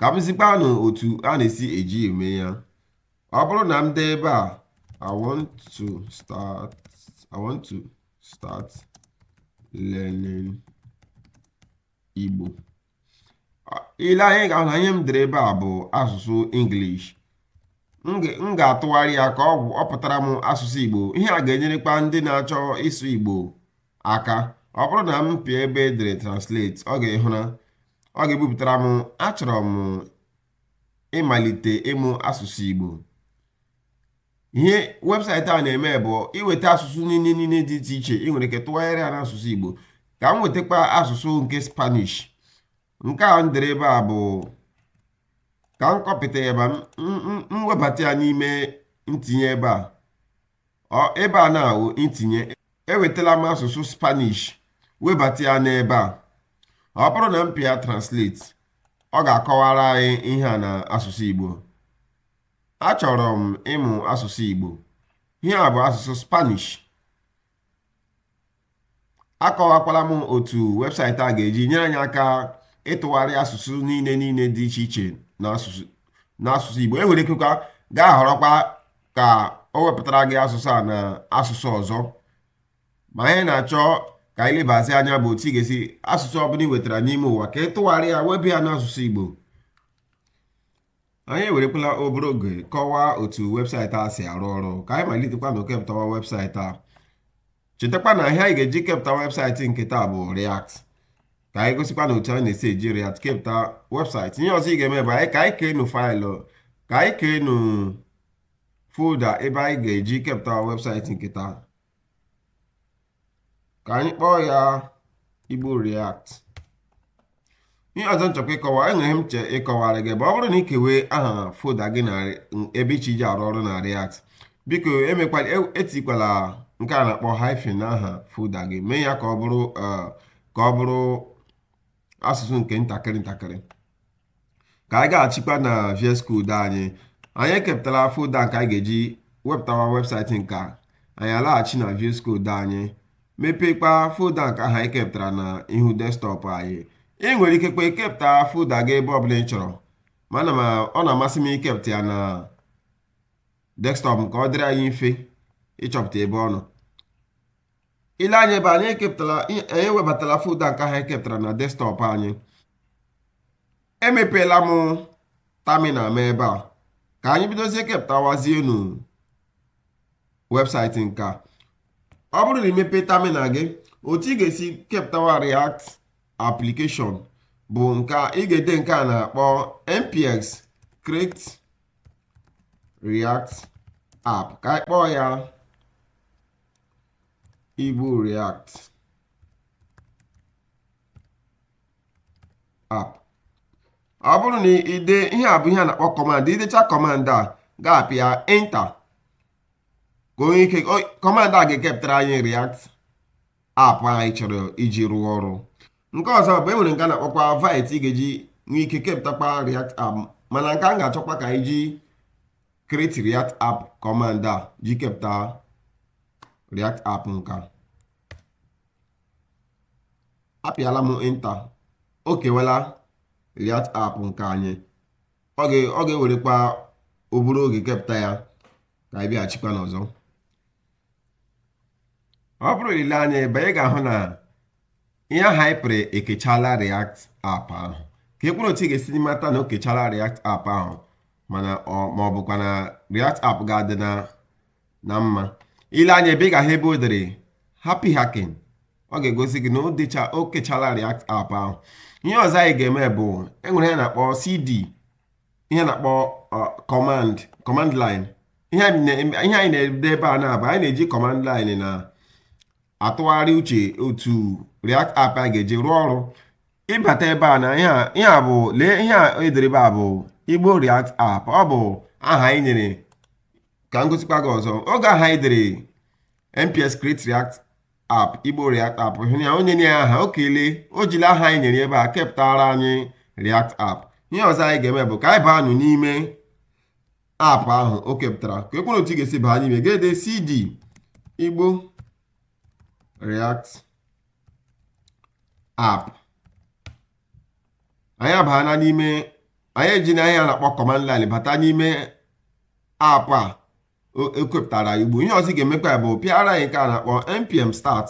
ka m zikwanụ otu a na-esi eji eme ya ọ bụrụ na m dee ebe a I want to start I want to start learning Igbo i lee anya ị ga-ahụ na ihe m dere ebe a bụ asụsụ English m ga-atụgharị ya ka ọ pụtara m asụsụ Igbo ihe a ga-enyerekwa ndị na-achọ ịsụ Igbo aka ọ bụrụ na m pịa ebe e dere translate ị ga-ahụ na ọ ga-ebupụtara m achọrọ m ịmalite ịmụ asụsụ Igbo ihe website a na-eme bụ iweta asụsụ niile niile dị iche iche ị nwere ike tụgharịa ya n'asụsụ Igbo ka m wetakwa asụsụ nke Spanish nke a m dere ebe a bụ ka m kọpịta ya ma m webata ya n'ime ntinye ebe a ebe a na-awụ ntinye ewetala m asụsụ spanish webata ya n'ebe a ọ bụrụ na m pịa translate ọ ga-akọwara anyị ihe a na asụsụ igbo achọrọ m ịmụ asụsụ igbo ihe a bụ asụsụ spanish akọwakwala m otu website a ga-eji nyere anyị aka ịtụgharị asụsụ niile niile dị iche iche n'asụsụ Igbo i nwere ikekwa gaa họrọkwa ka o wepụtara gị asụsụ a na asụsụ ọzọ ma ihe m na-achọ ka anyị lebazie anya bụ otu ị ga-esi asụsụ ọbụla ị wetara n'ime ụwa ka ị tụgharị ya webe ya n'asụsụ Igbo anyị ewerekwala obere oge kọwaa otu website a si arụ ọrụ ka anyị malitekwanụ kepụtawa website a chetakwa na ihe anyị ga-eji kepụta website nke taa bụ React ka anyị gosikwanụ otu anyị na-esi eji React kepụta website ihe ọzọ ị ga-eme bụ ka anyị keenụ file ka anyị keenụ folder ebe anyị ga-eji kepụta website nke taa ka anyị kpọọ ya igbo react ihe ọzọ m chọkwa ịkọwa enwere ihe m chọ ịkọwara gị bụ ọ bụrụ na ị kewe aha folder gị na ebe ị chọ iji arụ ọrụ na react biko emekwala e, etikwala nke a na-akpọ hyphen n'aha folder gị mee ya ka ọ bụrụ eh, ka ọ bụrụ asụsụ nke ntakịrị ntakịrị ka anyị gaghachikwa na VS Code anyị anyị ekepụtala folder nke anyị ga-eji wepụtawa website nke a anyị alaghachi na VS Code anyị mepekwa folder nke ahụ anyị kepụtara na ihu desktop anyị ị nwere ikekwa kepụta folder gị ebe ọbụla ị chọrọ mana ọ na-amasị m ikepụta ya na desktop ka ọ dịrị anyị mfe ịchọpụta ebe ọ nọ i lee anya ebe a anyị ewebatala folda nke ahụ e kepụtara na desktọpụ anyị emepeela m terminal m ebe a ka anyị bidozie kepụtawazienụ webụsaịtị nke a ọ bụrụ na i mepe terminal gị otu ị ga-esi kepụtawa react application bụ nke ị ga-ede nke a na-akpọ npx create react app ka anyị kpọọ ya Igbo React app ọ bụrụ na i dee ihe a bụ ihe a na-akpọ command i decha command a ị ga-apịa enter ka o nwee ike command a ga-ekepụtara anyị React app anyị chọrọ iji rụọ ọrụ nke ọzọ bụ e nwere nke a na-akpọkwa Vite ị ga-eji nwee ike kepụtakwa React app mana nke a m ga-achọkwa ka anyị ji create react app command a ji kepụta react app nke a apịala m enter o kewela react app nke anyị ọ ga-ewerekwa obere oge kepụta ya ka anyị bịaghachikwanụ ọzọ ọ bụrụ i lee anya ebe a ị ga-ahụ na ihe ahụ anyị pịara ekechala React app ahụ ka e kwuru otu ị ga-esi mata na o kechala React app ahụ ma ọ bụkwa na React app ga-adị na mma i lee anya ebe a ị ga-ahụ ebe o dere happy hacking ọ ga-egosi gị na o kechala React app ahụ ihe ọzọ anyị ga-eme bụ e nwere ihe a na-akpọ CD ihe a na-akpọ command line ihe anyị na-ede ebe a na-abụ anyị na-eji command line na-atụgharị uche otu react app a ga-eji rụọ ọrụ ị bata ebe a na ihe a bụ lee ihe a e dere ebe a bụ igbo react app ọ bụ aha anyị nyere ka m gosikwa gị ọzọ oge ahụ anyị dere npx create react app igbo react app hụ ya onye nye ya aha o kelee o jiri aha anyị nyere ebe a kepụtara anyị react app ihe ọzọ anyị ga-eme bụ ka anyị baanụ n'ime app ahụ o kepụtara ka e kwuru otu ị ga-esi baa n'ime ị ga-ede cd igbo react app anyị abaana n'ime anyị ejina ihe a na-akpọ command line bata n'ime app a e kepụtara igbo ihe ọzọ ị ga-emekwa bụ pịara anyị nke a na-akpọ npm start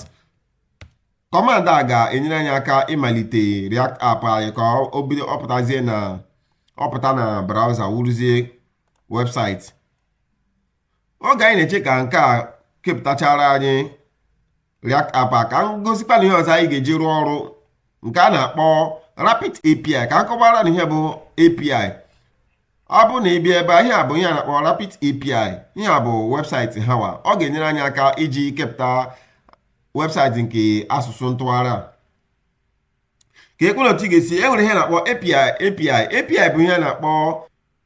command a ga-enyere anyị aka ịmalite react app anyị ka o bido pụtazie na ọ pụta na browser wụrụzie webụsaịtị oge anyị na-eche ka nke a kepụtachara anyị app a ka m gosikwa unu ihe ọzọ anyị ga-eji rụọ ọrụ nke a na-akpọ rapid API ka m kọwara unu ihe bụ API ọ bụ na ị bịa ebe a ihe a bụ ihe a na-akpọ rapid API ihe a bụ webụsaịtị hawa ọ ga-enyere anyị aka iji kepụta webụsaịtị nke asụsụ ntụgharị a ka ekwere otu ị ga-esi e nwere ihe na-akpọ API API bụ ihe na-akpọ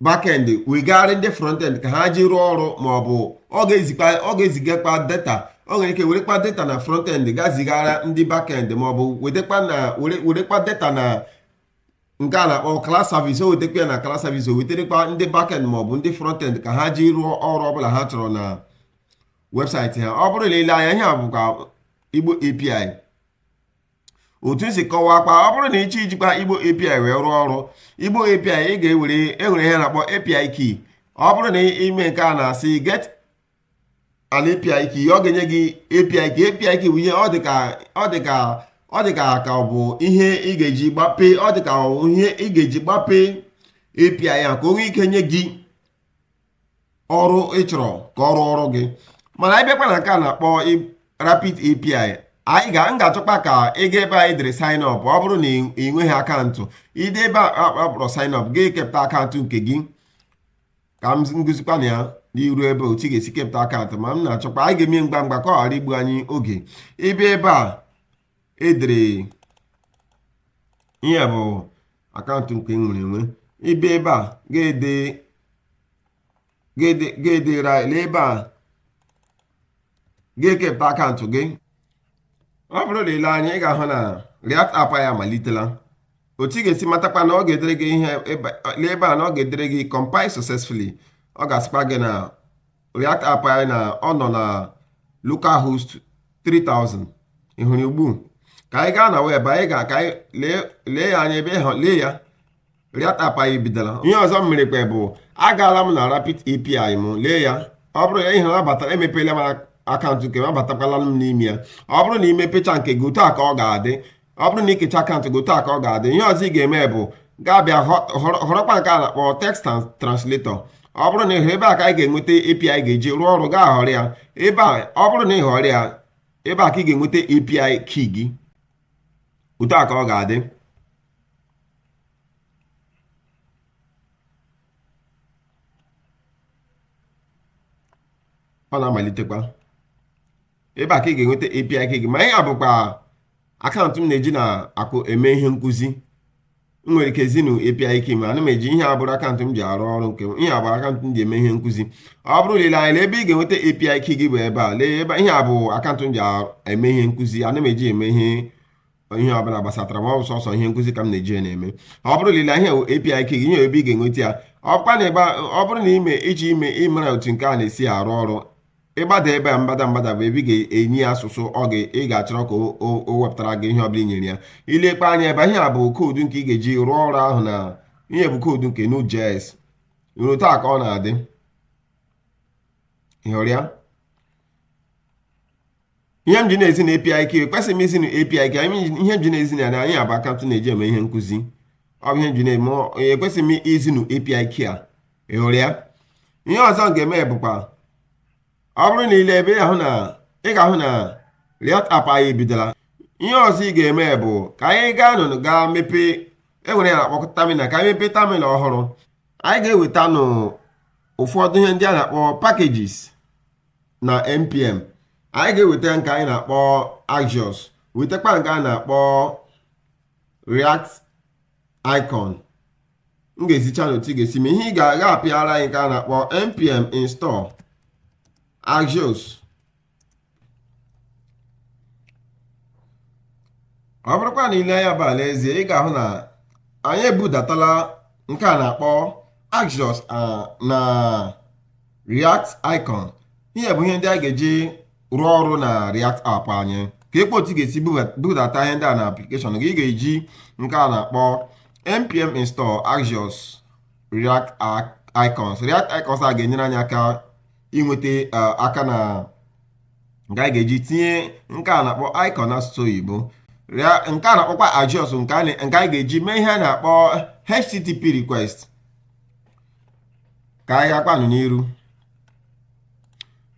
backend wegara ndị frontend ka ha ji rụọ ọrụ ma ọ bụ ọ ga-ezigakwa data ọ nwere ike werekwa data na frontend ga zigara ndị backend ma ọ bụ werekwa data na nke a na-akpọ cloud service o wetekwa ya na cloud service o weterekwa ndị backend ma ọ bụ ndị frontend ka ha ji rụọ ọrụ ọbụla ha chọrọ na webụsaịtị ha ọ bụrụ na i lee anya ihe a bụkwa igbo api otu m si kọwaakwa ọ bụrụ na ị chọọ ijikwa igbo api wee rụọ ọrụ igbo api ị ga-ewere e nwere ihe na-akpọ api key ọ bụrụ na i mee nke a na-asị get an api key ọ ga-enye gị api key api key bụ ihe ọ dị ka ka ọ bụ ihe ị ga-eji gbapee ọ dị ka ihe ị ga-eji gbapee API ya ka o nwee ike nye gị ọrụ ị chọrọ ka ọ rụọrọ gị mana anyị bịakwa na nke a na-akpọ rapid api m ga-achọkwa ka ị ga ebe e dere sign up ọ bụrụ na ị nweghị akaụntụ ide ebe a kpọrọ sign up gị kepụta akaụntụ nke gị ka m gosikwa unu ya n'iru ebe otu ị ga-esi kepụta akaụntụ ma m na-achọkwa anyị ga-eme ngwa ngwa ka ọ ghara igbu anyị oge ị bịa ebe a edere ihe a bụ akaụntụ nke nwere enwe ị bịa ebe a ga-ede ga-edere lee ebe a ga-ekepụta akaụntụ gị ọ bụrụ na i lee anya ị ga-ahụ na React app anyị amalitela otu ị ga-esi matakwa na ọ ga-edere gị ihe lee ebe a na ọ ga-edere gị compile successfully ọ ga-asịkwa gị na react app anyị na ọ nọ na localhost 3000 ị hụrụ ugbu a ka anyị gaa na web anyị ga ka anyị lee ya anya ebe ha lee ya react app anyị bidola ihe ọzọ m merekwa bụ agaala m na rapid api m lee ya ọ bụrụ ya ihe ha batara emepeela m akaụntụ nke m abatakwala m n'ime ya ọ bụrụ na i mepecha nke gị otu a ka ọ ga-adị ọ bụrụ na i kecha akaụntụ gị otu a ka ọ ga-adị ihe ọzọ ị ga-eme bụ gaa bịa họrọkwa nke a na-akpọ text translator ọ bụrụ na ị hụ ebe a ka anyị ga-enweta API ga-eji rụọ ọrụ gaa họrọ ya ebe a ọ bụrụ na ị họrọ ya ebe a ka ị ga-enweta API key gị otu a ka ọ ga-adị ọ na-amalitekwa ebe a ka ị ga-enweta API gị ma ihe a bụkwa akaụntụ m na-eji na akụ eme ihe nkụzi m nwere ike zi unu API key ma ana m eji ihe a abụrọ akaụntụ m ji arụ ọrụ nke m ihe a bụ akaụntụ m ji eme ihe nkụzi ọ bụrụ na i lee anya ebe ị ga-enweta API key gị bụ ebe a lee ebe ihe a bụ akaụntụ m ji eme ihe nkụzi ana m eji eme ihe ihe ọbụla gbasatara ma ọ bụ sọsọ ihe nkụzi ka m na-eji ya na-eme ọ bụrụ na i lee ihe API key gị nye ebe ị ga-enweta ya ọ bụrụ na ime iji ime ịmara otu nke a na-esi arụ ọrụ i gbada ebe a mgbada mgbada bụ ebe ị ga-enye ya asụsụ ọ ga ị ga-achọrọ ka o wepụtara gị ihe ọbụla i nyere ya i lekwa anya ebe a ihe a bụ koodu nke ị ga-eji rụọ ọrụ ahụ na ihe a bụ koodu nke Node.js otu a ka ọ na-adị ị hụrụ ya ihe m ji na-ezi unu API key ekwesịghị m izi unu API key ihe m ji na-ezi unu ihe a bụ akaụntụ m na-eji eme ihe nkụzi ọ bụ ihe m ji na-eme ekwesịghị m izi unu API key a ị hụrụ ya ihe ọzọ m ga-eme bụkwa ọ bụrụ na i lee ebe a ị ga-ahụ na React app anyị ebidola ihe ọzọ ị ga-eme bụ ka anyị gaa nụ gaa mepee e nwere ihe a na-akpọ terminal ka anyị mepee terminal ọhụrụ anyị ga-eweta nụ ụfọdụ ihe ndị a na-akpọ packages na npm anyị ga-eweta nke anyị na-akpọ axios wetakwa nke a na-akpọ react icon m ga-ezicha unu otu ị ga-esi mee ihe a ị ga-aga pịara anyị nke a na-akpọ npm install axios ọ bụrụkwa na i lee anya ebe a n'ezie ị ga-ahụ na anyị ebudatala nke a na-akpọ axios na react icon ihe a bụ ihe ndị anyị ga-eji rụọ ọrụ na react app anyị ka ekpe otu ị ga-esi budata ihe ndị a na application gị ị ga-eji nke a na-akpọ npm install axios react icons react icons a ga-enyere anyị aka inweta akara nke anyị ga-eji tinye nke a na-akpọ icon n'asụsụ oyibo nke a na-akpọkwa axios nke anyị ga-eji mee ihe a na-akpọ http request ka anyị gakwanụ n'iru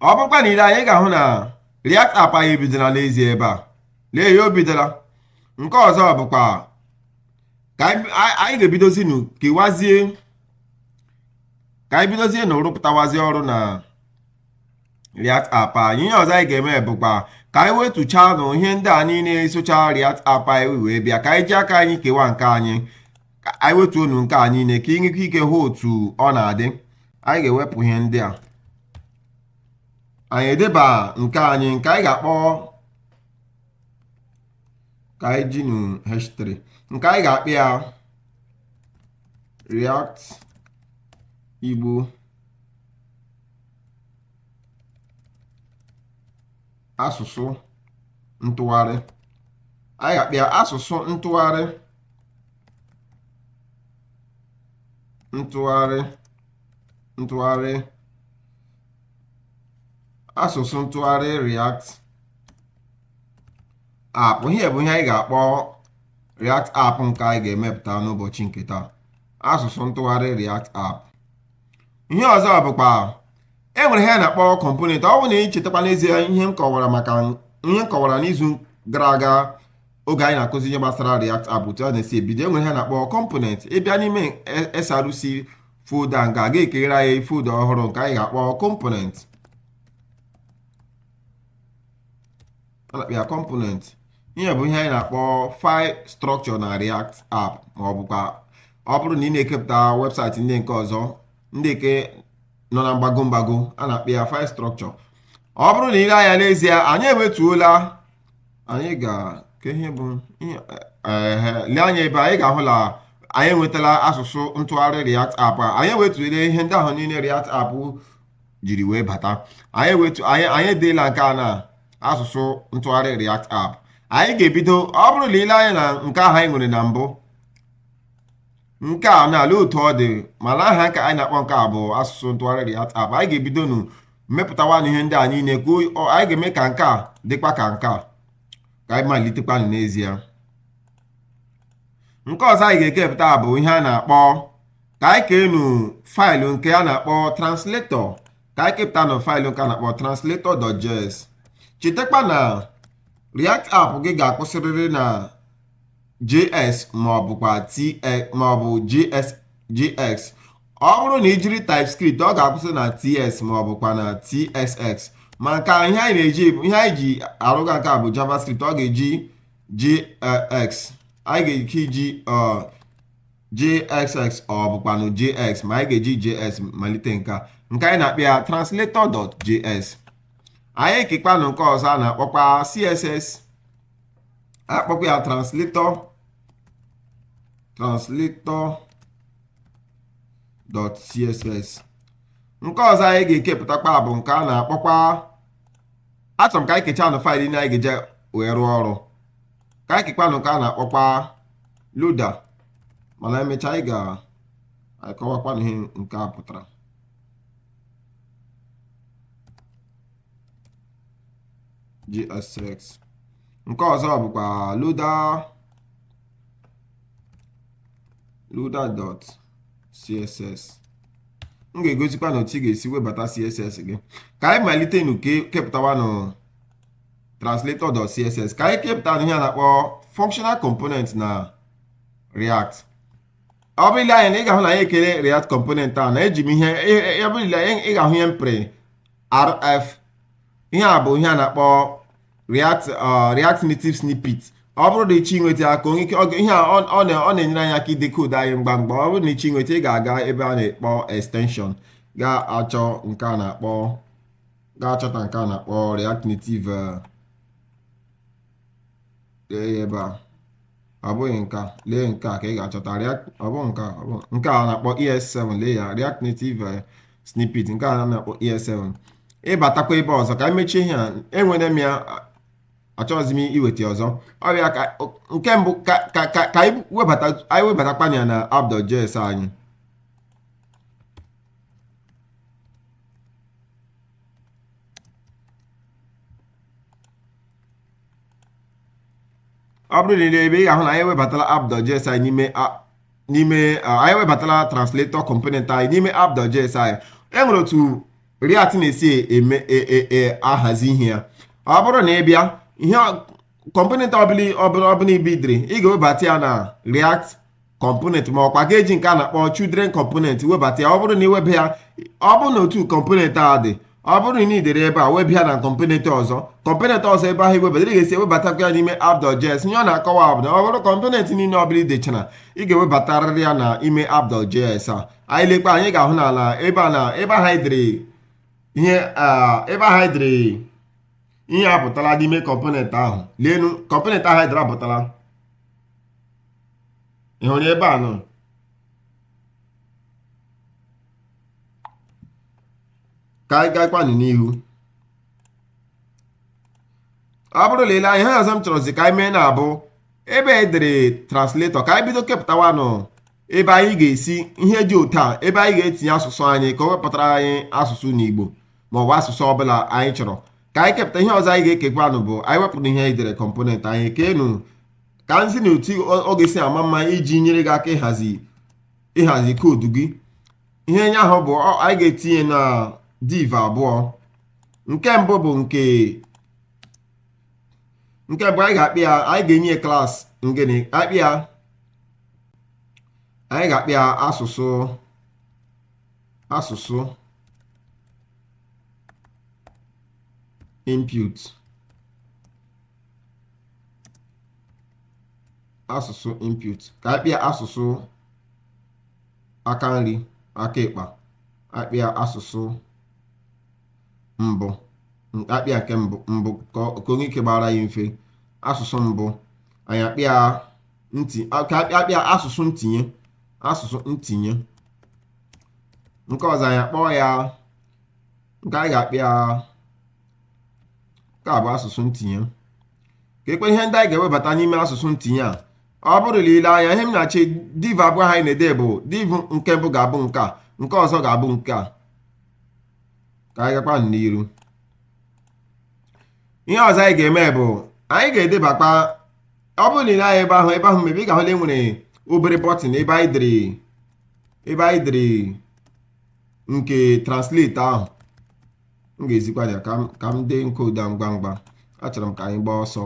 ọ bụkwa na i lee anya ị ga-ahụ na React app anyị ebidola n'ezie ebe a lee ya o bidola nke ọzọ bụkwa ka anyị anyị- anyị ga-ebidozi nụ kewazie ka anyị bidozie nụ rụpụtawazie ọrụ na React app anyị ihe ọzọ anyị ga-eme bụkwa ka anyị wetuchaa nụ ihe ndị a niile socha React app anyị wee bịa ka anyị ji aka anyị kewa nke anyị ka anyị wetuonu nke a niile ka ị nwekwa ike hụ otu ọ na-adị anyị ga-ewepụ ihe ndị a anyị edeba nke anyị nke anyị ga-akpọ ka anyị jinu h3 nke anyị ga-akpọ ya react igbo asụsụ ntụgharị anyị ga-akpọ ya asụsụ ntụgharị ntụgharị asụsụ ntụgharị react app ihe bụ ihe anyị ga-akpọ react app nke anyị ga-emepụta n'ụbọchị nke taa asụsụ ntụgharị react app ihe ọzọ bụkwa e nwere ihe a na-akpọ component ọ bụrụ na ị chetakwa n'ezie ihe m kọwara maka ihe m kọwara n'izu gara aga oge anyị na-akụzi ihe gbasara React App otu a na-esi ebido e nwere ihe a na-akpọ component ị bịa n'ime SRC folder nke a ga-ekeghere anyị folder ọhụrụ nke anyị ga-akpọ component a na-akpọ ya component ihe bụ ihe anyị na-akpọ file structure na React App ma ọ bụkwa ọ bụrụ na ị na-ekepụta website ndị nke ọzọ ndị nke nọ na mgbago mgbago a na-akpọ ya file structure ọ bụrụ na ị lee anya n'ezie anyị ewetuola anyị ga ka ihe bụ ihe ehe lee anya ebe anyị ga-ahụ na anyị enwetala asụsụ ntụgharị React app a anyị ewetule ihe ndị ahụ niile React app jiri wee bata anyị wetu anyị anyị edeela nke a na asụsụ ntụgharị React app anyị ga-ebido ọ bụrụ na ị lee anya na nke ahụ anyị nwere na mbụ nke a na-ala otu ọ dị mana aha nke anyị na-akpọ nke a bụ asụsụ ntụgharị React App anyị ga-ebidonu mepụtawanụ ihe ndị a niile ka anyị ga-eme ka nke a dịkwa ka nke a ka anyị malitekwanụ n'ezie nke ọzọ anyị ga-ekepụta bụ ihe a na-akpọ ka anyị keenu file nke a na-akpọ translator ka anyị kepụtanụ file nke a na-akpọ translator.js chetakwa na React App gị ga-akwụsịrịrị na js ma ọ bụkwa jx ma ọ bụ jsx ọ bụrụ na i jiri typescript ọ ga-akwụsị na ts ma ọ bụkwa na tsx ma nke a ihe anyị na-eji ihe anyị ji arụga nke a bụ javascript ọ ga-eji jx anyị ga-eke iji jsx ọ bụkwanụ jx ma anyị ga-eji js malite nke a nke anyị na-akpọ ya translator.js anyị ekekwanụ nke ọzọ a na-akpọkwa css akpọkwa ya translator translator dot css nke ọzọ anyị ga-ekepụtakwa bụ nke a na-akpọkwa achọrọ m ka anyị kechaa nụ faịlụ niile anyị ga-eji wee rụọ ọrụ ka anyị kekwanụ nke a na-akpọkwa loader mana emechaa anyị ga-akọwakwanụ ihe nke a pụtara jsx nke ọzọ bụkwa loader loader dot css m ga-egosikwanụ otu ị ga-esi webata css gị ka anyị malitenụ kepụtawanụ translator dot css ka anyị kepụta ihe a na-akpọ functional component na react ọ bụrụ i lee anya na ị ga-ahụ na anyị ekeela react component a na eji m ihe ọ bụrụ i lee ị ga-ahụ ihe m pịrị rf ihe a bụ ihe a na-akpọ react uh, react native snippet ọ bụrụ na ị chọọ inweta aka onye ike ihe a ọ na-enyere anyị aka ide koodu anyị ngwa ngwa ọ bụrụ na ị chọọ inweta ị ga-aga ebe a na-akpọ extension ga-achọ nke a na-akpọ ga-achọta nke a na-akpọ react native uh, lee ya ebe a ọ bụghị nke a lee nke a ka ị ga-achọta React ọ bụ nke a ọ bụ nke a na-akpọ ES7 lee ya React Native eh, snippet nke a na-akpọ ES7 ị batakwa ebe ọzọ ka m mechie ihe a enwere m ya achọghịzi m iweta ọzọ ọ dị ka nke mbụ ka ka ka ka anyị webata anyị webatakwa ya na app.js anyị ọ bụrụ na i lee ebe ị ga-ahụ na anyị ewebatala app.js anyị n'ime n'ime anyị ewebatala translator component anyị n'ime app.js anyị e nwere otu React na-esi eme e, e, e, ahazi ihe ya ọ bụrụ na ị bịa ihe component ọbụla ọbụla i buildiri ị ga-ewebata ya na React component ma ọkwa ga-eji nke a na-akpọ children component webata ya ọ bụrụ na i weba ya ọ bụrụ na otu component a dị ọ bụrụ na ị dere ebe a wee bịa na component ọzọ component ọzọ ebe ahụ i webata ị ga-esi ewebatakwa ya n'ime app.js ihe ọ na-akọwa bụ na ọ bụrụ component niile ọ bụla i dechara ị ga-ewebatarịrị ya na ime app.js a anyị lekwa anyị ga-ahụ n'ala ebe a na ebe ahụ anyị dere ihe ebe ahụ anyị dere ihe apụtala n'ime component ahụ leenụ component ahụ anyị dere apụtala ị hụrụ ebe a nọ ka anyị gaakwanụ n'ihu ọ bụrụ na i lee anya ihe ọzọ m chọrọzi ka anyị mee na-abụ ebe e dere translator ka anyị bido kepụtawanụ ebe anyị ga-esi ihe dị otu a ebe anyị ga-etinye asụsụ anyị ka o wepụtara anyị asụsụ n'Igbo maọbụ asụsụ ọbụla anyị chọrọ ka anyị kepụta ihe ọzọ anyị ga-ekekwanụ bụ anyị wepụrụ ihe anyị dere component anyị keenụ ka m zi unu otu ọ ga-esi ama mma iji nyere gị aka ịhazi ịhazi koodu gị ihe nye ahụ bụ anyị ga-etinye na div abụọ nke mbụ bụ nke nke mbụ anyị ga-akpọ ya anyị ga-enye class ngịnị akpọ ya anyị ga-akpọ ya asụsụ asụsụ input asụsụ input ka a kpọọ ya asụsụ aka nri aka ịkpa a kpọọ ya asụsụ mbụ a kpọọ ya nke mbụ mbụ ka o nwee ike gbara ya mfe asụsụ mbụ anyị akpọọ ya ntị ka a kpọọ ya asụsụ ntinye asụsụ ntinye nke ọzọ anyị akpọọ ya nke anyị ga-akpọ ya nke a bụ asụsụ ntinye ka ekwe ihe ndị anyị ga-ewebata n'ime asụsụ ntinye a ọ bụrụ na i lee anya ihe m na-achọ div abụọ anyị na-ede bụ div nke mbụ ga-abụ nke a nke ọzọ ga-abụ nke a ka anyị gakwa n'iru ihe ọzọ anyị ga-eme bụ anyị ga-edebakwa ọ bụrụ na i lee anya ebe ahụ ebe ahụ mebe ị ga-ahụ na e nwere obere bọtịn ebe anyị dere ebe anyị dere nke translate ahụ m ga-ezikwa ya ka m ka m dee koodu a ngwa ngwa achọrọ m ka anyị gbaa ọsọ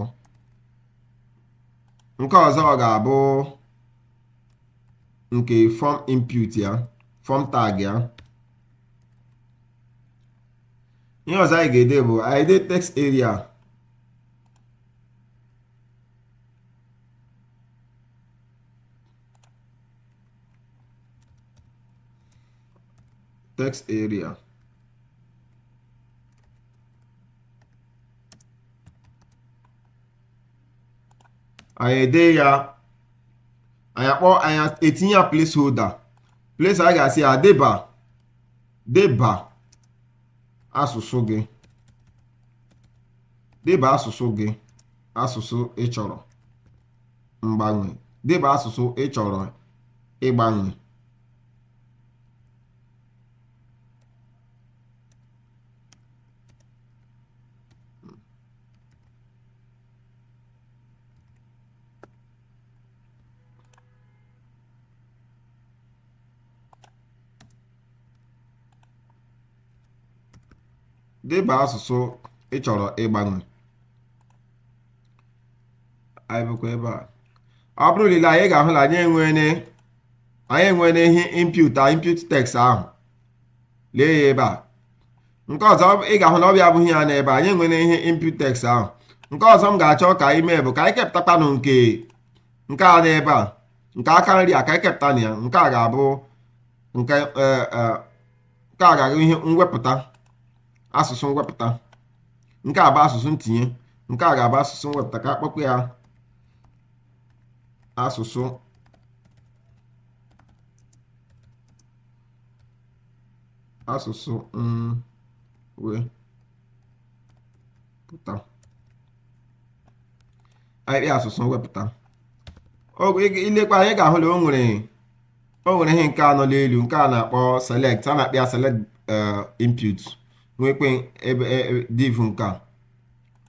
nke ọzọ ọ ga-abụ nke form input ya form tag ya ihe ọzọ anyị ga-ede bụ anyị ede text area text area anyị ede ya anyị akpọ anyị etinye ya placeholder place anyị ga-asị ya deba deba asụsụ gị deba asụsụ gị asụsụ ị chọrọ mgbanwe deba asụsụ ị chọrọ ịgbanwe deba asụsụ ị chọrọ ịgbanwe anyị bịakwa ebe a ọ bụrụ na i lee anya ị ga-ahụ na anyị enwene anyị enwene ihe input input text ahụ lee ya ebe a nke ọzọ ị ga-ahụ na ọ bịa abụghị ya n'ebe anyị enwene ihe input text ahụ nke ọzọ m ga-achọ ka anyị mee bụ ka anyị kepụtakwanụ nke nke a n'ebe a nke aka nri a ka anyị kepụta na ya nke a ga-abụ nke nke a ga-abụ ihe mwepụta asụsụ mwepụta nke a bụ asụsụ ntinye nke a ga-abụ asụsụ mwepụta ka a kpọkwa ya asụsụ asụsụ mwepụta ahịrị asụsụ mwepụta i lekwa anya ị ga-ahụ na o nwere o nwere ihe nke a nọ n'elu nke a na-akpọ select a na-akpọ ya select input nwekwe ebe div nke a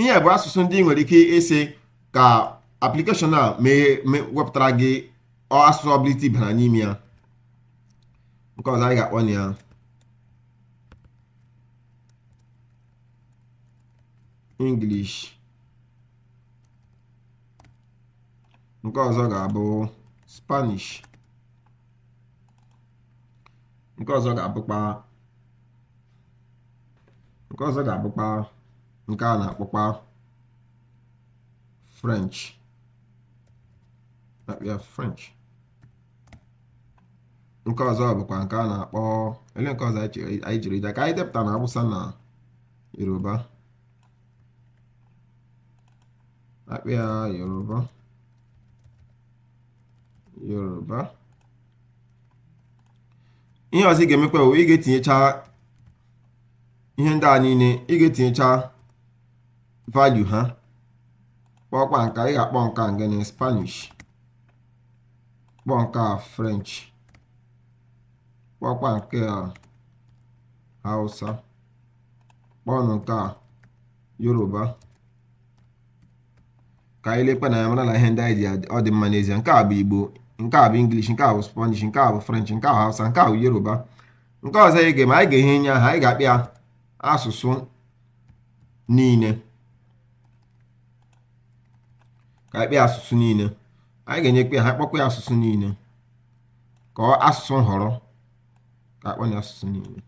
ihe bụ asụsụ ndị i nwere ike ịsị ka application a wepụtara gị asụsụ ọbụla i tibara n'ime ya nke ọzọ anyị ga-akpọ na ya English nke ọzọ ga-abụ Spanish nke ọzọ ga-abụkwa nke ọzọ ga-abụkwa nke a na-akpọkwa french a kpọọ ya french nke ọzọ bụkwa nke a na-akpọ ele nke ọzọ anyị jiri ide ka anyị depụta na awụsa na yoruba a kpọọ ya yoruba yoruba ihe ọzọ ị ga-emekwa bụ ị ga-etinyecha ihe ndị a niile ị ga-etinyecha value ha kpọkwa nke a, ị ga-akpọ nke a gịnị spanish kpọọ nke a french kpọkwa nke a hausa kpọọnụ nke a yoruba ka anyị lekwa na ya mara na ihe ndị anyị ji adị- ọ dị mma n'ezie nke a bụ igbo nke a bụ english nke a bụ spanish nke a bụ french nke a bụ hausa nke a bụ yoruba nke ọzọ anyị ga-eme anyị ga-enye nye aha anyị ga-akpọ ya asụsụ niile ka anyị kpọọ ya asụsụ niile anyị ga-enyekwa ya aha kpọkwa ya asụsụ niile ka ọ asụsụ nhọrọ ka akpọ ya asụsụ niile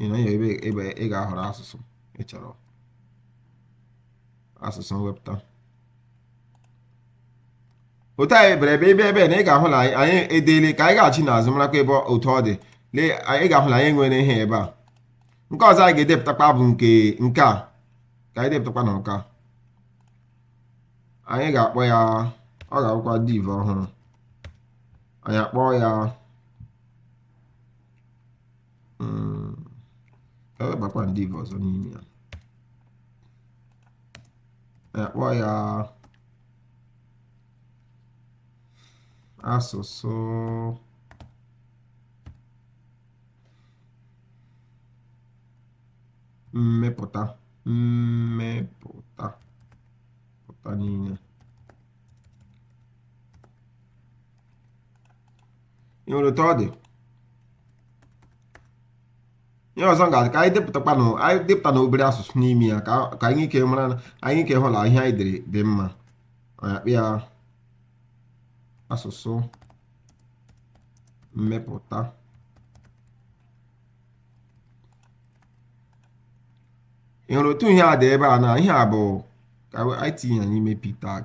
ị na ya ebe ebe ị ga-ahọrọ asụsụ ị chọrọ asụsụ mwepụta otu anyị bere ebe ebe ebe na ị ga-ahụ na anyị edeela ka anyị gaghachi n'azụ marakwa ebe otu ọ dị lee anyị ga-ahụ na anyị nwere ihe ebe a nke ọzọ anyị ga-edepụtakwa bụ nke nke a ka anyị depụtakwa na nke a anyị ga-akpọ ya ọ ga-abụkwa div ọhụrụ anyị akpọọ ya mm, ka webakwa div ọzọ n'ime ya akpọ ya asụsụ mmepụta mmepụta pụta niile ị nwere otu ọ dị ihe ọzọ m ga-adị ka anyị depụtakwa na anyị depụta na obere asụsụ n'ime ya ka ka anyị ike mara na anyị ike hụ na ihe anyị dere dị mma anyị akpọ ya asụsụ mmepụta ị hụrụ otu ihe a dị ebe a na ihe a bụ ka anyị tinye ya n'ime p tag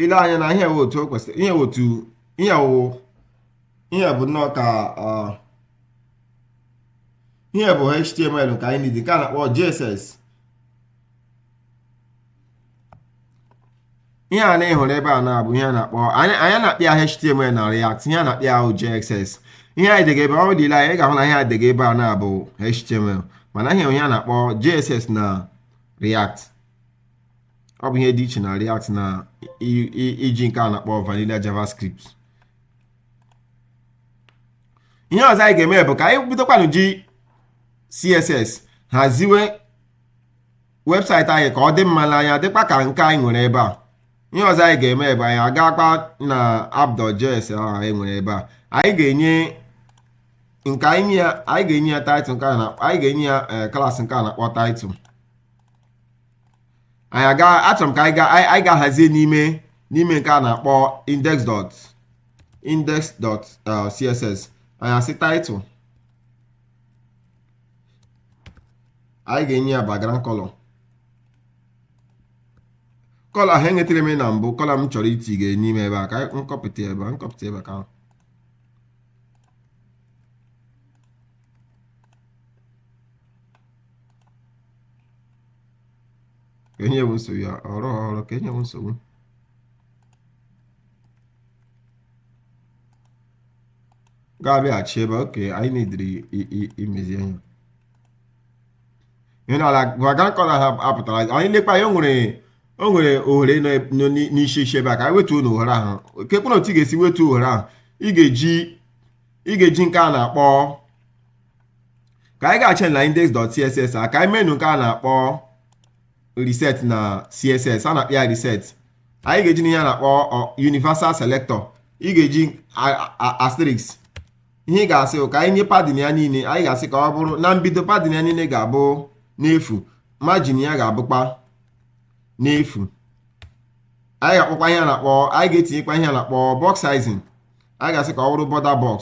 ile anya na ihe wụ otu o kwesịrị ihe wụ otu ihe wụ ihe bụ nnọọ ka ọ ihe bụ html nke anyị na-ede nke a na-akpọ jss ihe a na ịhụrụ ebe a na-abụ ihe a na-akpọ anyị anyị na-akpọ ya html na react ihe a na-akpọ ya wụ jss ihe anyị dega ebe ọ dịla anyị ga-ahụ na ihe a dega ebe a na-abụ html mana ihe ihe a na-akpọ jss na react ọ bụ ihe dị iche na react na iji nke a na-akpọ vanilla javascript ihe ọzọ anyị ga-eme bụ ka anyị bidokwanụ ji css haziwe website anyị ka ọ dị mma n'anya dịkwa ka nke anyị nwere ebe a ihe ọzọ anyị ga-eme ebe anyị agakwa na app dot js ahụ anyị nwere ebe a anyị ga-enye nke anyị ya anyị ga-enye ya title nke anyị ga-enye ya eh, class nke a na-akpọ title anyị aga achọrọ m ka anyị ga-ahazie n'ime n'ime nke a na-akpọ index dot index dot eh, css anyị asị title anyị ga-enye ya background color color ahụ enyetere m na mbụ color m chọrọ iti ga n'ime ebe a ka m kọpụta ebe a m kọpụta ebe ka enye m nsogbu ya ọrụ ọrụ ka enye m nsogbu ga-abịaghachi ebe okay anyị na-ediri imezi ihe ihe n'ala background color ha apụtara anyị lekwa ya o nwere o nwere ohere nọ eb- nọ n'i- n'isi isi ebe a ka anyị wetuonụ ohere ahụ kekwanụ otu ị ga-esi wetuo ohere ahụ ị ga-eji ị ga-eji nke a na-akpọ ka anyị gaghachi na index.css a ka anyị meenụ nke a na-akpọ reset na css a na-akpọ ya reset anyị ga-ejinụ ihe a na-akpọ universal selector ị ga-eji asterisk ihe ị ga-asị ka anyị nye padding ya niile anyị ga-asị ka ọ bụrụ na mbido padding ya niile ga-abụ n'efu margin ya ga-abụkwa n'efu anyị ga-akpọkwa ihe a na-akpọ anyị ga-etinyekwa ihe a na-akpọ box sizing anyị ga-asị ka ọ bụrụ border box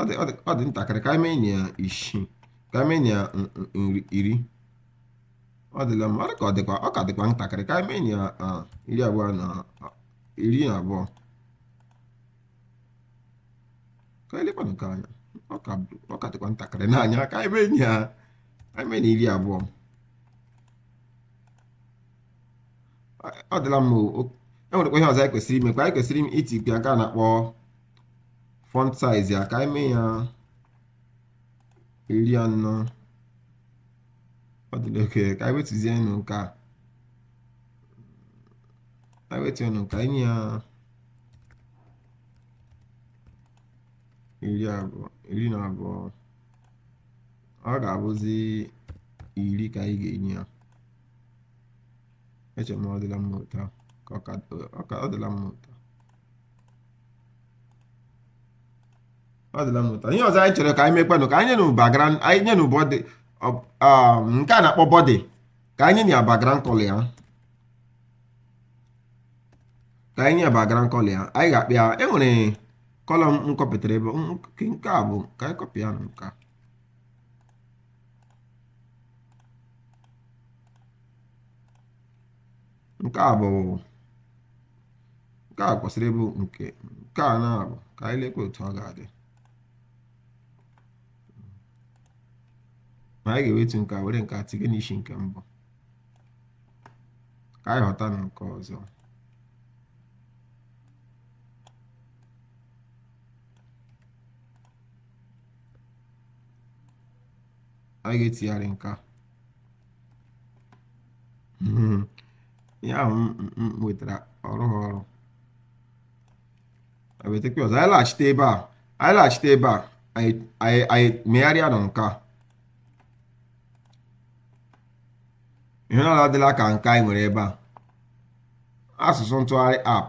ọ dị ọ dị ọ dị ntakịrị ka anyị meenụ ya isii ka anyị meenụ ya n- n- nri iri ọ dịla mma ọ dị ka ọ dịkwa ọ ka dịkwa ntakịrị ka anyị meenụ ya ah, iri abụọ na ah, iri na abụọ ka anyị lekwanụ nke a anya ọ ka bụ- ọ ka dịkwa ntakịrị n'anya ka anyị meenụ ya anyị meenụ iri abụọ ọ dịla mma o o- enwerekwa ihe ọzọ anyị kwesịrị ime kwa anyị kwesịrị ime iti nke nke a na-akpọ font size ya ka anyị mee ya iri anọ ọ dịla oke ka anyị wetuzienụ nke a anyị wetuzienụ ka anyị nye ya iri abụọ iri na abụọ ọ ga-abụzi iri ka anyị ga-enye ya eche m ọ dịla mma otu a ka ọ dịla mma otu a ọ dịla mma otu a ihe ọzọ anyị chọrọ ka anyị mekwanụ ka anyị nyenụ background anyị nyenụ body ọ- um, nke a na-akpọ body ka anyị nye ya background color ya ka anyị nye ya background color ya anyị ga-akọpị ya e nwere color m kọpụtara ebe m- nke nke a bụ ka anyị kọpị ya na nke a Nke a bụ nke a kwesịrị ịbụ nke nke a na-abụ ka anyị lekwa otu ọ ga-adị ma anyị ga-ewetu nke a were nke a tinye n'isi nke mbụ ka anyị ghọta na nke ọzọ anyị ga-etigharị nke a Hmm. ya ahụ m nwetara ọrụ ha ọrụ ewetakwa ọzọ anyị laghachite ebe a anyị laghachite ebe a anyị megharịa na nke a ihe a adịla ka nke anyị nwere ebe a asụsụ ntụgharị app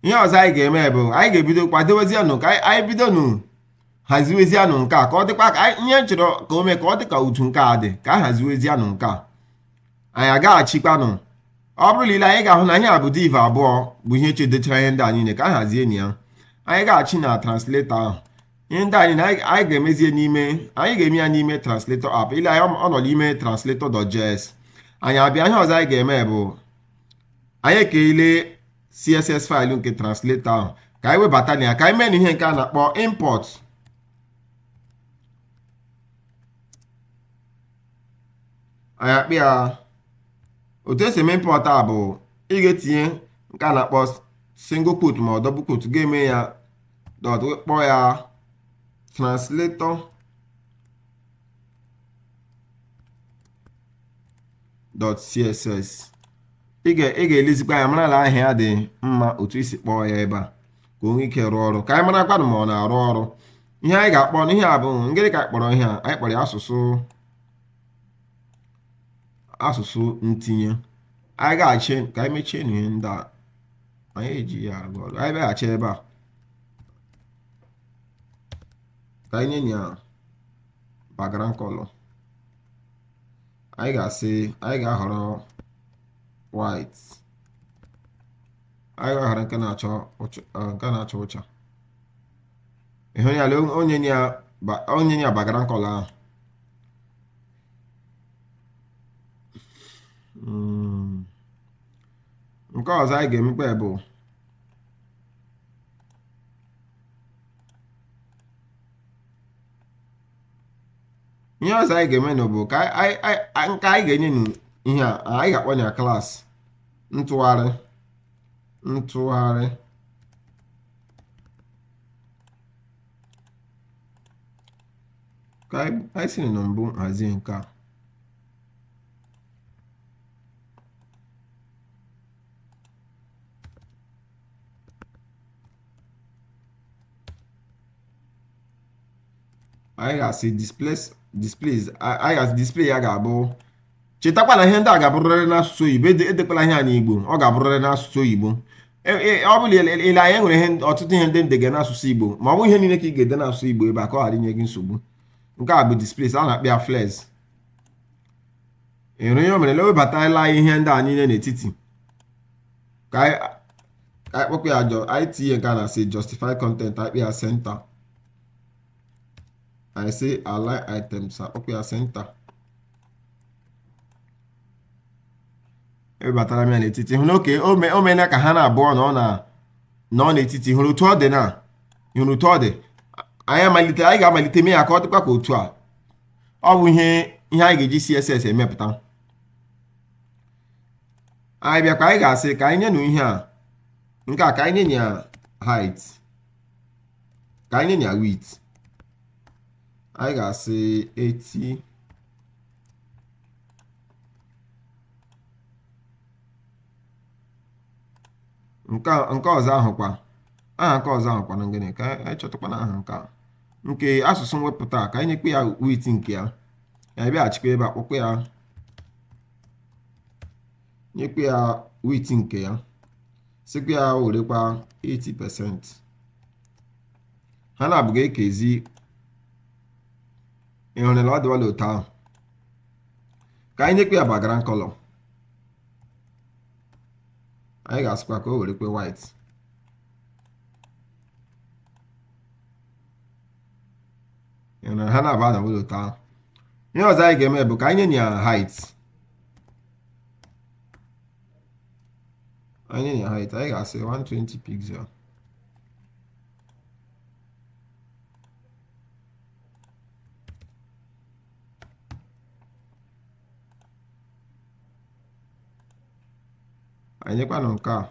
ihe ọzọ anyị ga-eme bụ anyị ga-ebido kwadobezienụ ka anyị bidonụ haziwezianụ nke a ka ọ dịkwa ka anyị- ihe m chọrọ ka o mee ka ọ dị ka otu nke a dị ka a haziwezianụ nke a anyị agaghachikwanụ ọ bụrụ na i lee anya ị ga-ahụ na ihe a bụ div abụọ bụ ihe chedechara ihe ndị a niile ka a hazienụ ya anyị agaghachi na translator ahụ ihe ndị anyị na anyị anyị ga-emezie n'ime anyị ga-eme ya n'ime translator app i lee anya ọ nọ n'ime translator.js anyị abịa ihe ọzọ anyị ga-eme bụ anyị ekeela css faịlụ nke translator ahụ ka anyị webatanụ ya ka anyị meenụ ihe nke a na-akpọ import anyị akpịa otu e si eme import a bụ ị ga-etinye nke a na-akpọ single quote ma ọ double quote ga-eme ya dot kpọọ ya translator dot css ị ga- ị ga-elezikwa ya mara na aha ya dị mma otu i si kpọọ ya ebe a ka o nwee ike rụọ ọrụ ka anyị marakwanụ ma ọ na-arụ ọrụ ihe anyị ga-akpọnụ ihe a bụ ngịrị ka anyị kpọrọ ihe a anyị kpọrọ ya asụsụ asụsụ ntinye anyị agaghachi ka anyị mechienụ ihe ndị a anyị ejighị arụ ọrụ anyị bịaghachi ebe a ka anyị nye ya background color anyị ga-asị anyị ga-ahọrọ white anyị ga-ahọrọ nke na-acha nke na-acha ụcha ị hụ ya lee o nye ya o nye ya background color ahụ nke ọzọ anyị ga-emekwa bụ ihe ọzọ anyị ga-eme nụ bụ ka anyị- anyị anyị- nke anyị ga-enye nụ ihe a anyị ga-akpọ ya class ntụgharị ntụgharị ka anyị anyị si na mbụ hazie nke a anyị ga-asị displays displays anyị ga-asị display ya ga-abụ chetakwa na ihe ndị a ga-abụrịrị n'asụsụ oyibo edekwala ihe a n'igbo ọ ga-abụrịrị n'asụsụ oyibo e, e, ọ bụla ile anya e nwere ihe ọtụtụ ihe ndị ndege n'asụsụ igbo ma ọ bụ ihe niile ka ị ga-ede n'asụsụ igbo ebe a ka ọ ghara inye gị nsogbu nke a bụ display a na-akpọ ya flex ịhụrụ ihe o mere na ewebataela ihe ndị a niile n'etiti ka ka anyị kpọkwa ya jọ anyị tinye nke a na-asị justify content akpị ya center anyị sị align items akpọkwa ya center ewebatara m ya n'etiti hụ n'oke o meela ka ha na-abụọ na ọ na nọ n'etiti hụrụ otu ọ dị na hụrụ otu ọ dị anyị amalite anyị ga-amalite mee ya ka ọ dịkwa ka otu a ọ bụ ihe ihe anyị ga-eji CSS emepụta anyị bịa ka anyị ga-asị ka anyị nyenụ ihe a nke a ka anyị nye ya height ka anyị nye ya width anyị ga-asị 80 nke ọzọ ahụ kwa aha nke ọzọ ahụ kwana ngịnị ka anyị chọtakwanụ aha nke a nke asụsụ mwepụta ka anyị nyekwa ya width nke ya anyị bịaghachikwa ebe a kpọkwa ya nyekwa ya width nke ya sịkwa ya werekwa 80 percent ha na-abụọ ga-ekezi ịhụrụla ọ dịwala otu ahụ ka anyị nyekwa ya background color anyị ga-asịkwa ka o werekwe white ha na-abụọ adịwala otu ahụ ihe ọzọ anyị ga-eme bụ ka anyị nye ya height anyị nye ya height anyị ga-asị 120 pixel anyị nyekwanụ nke a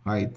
height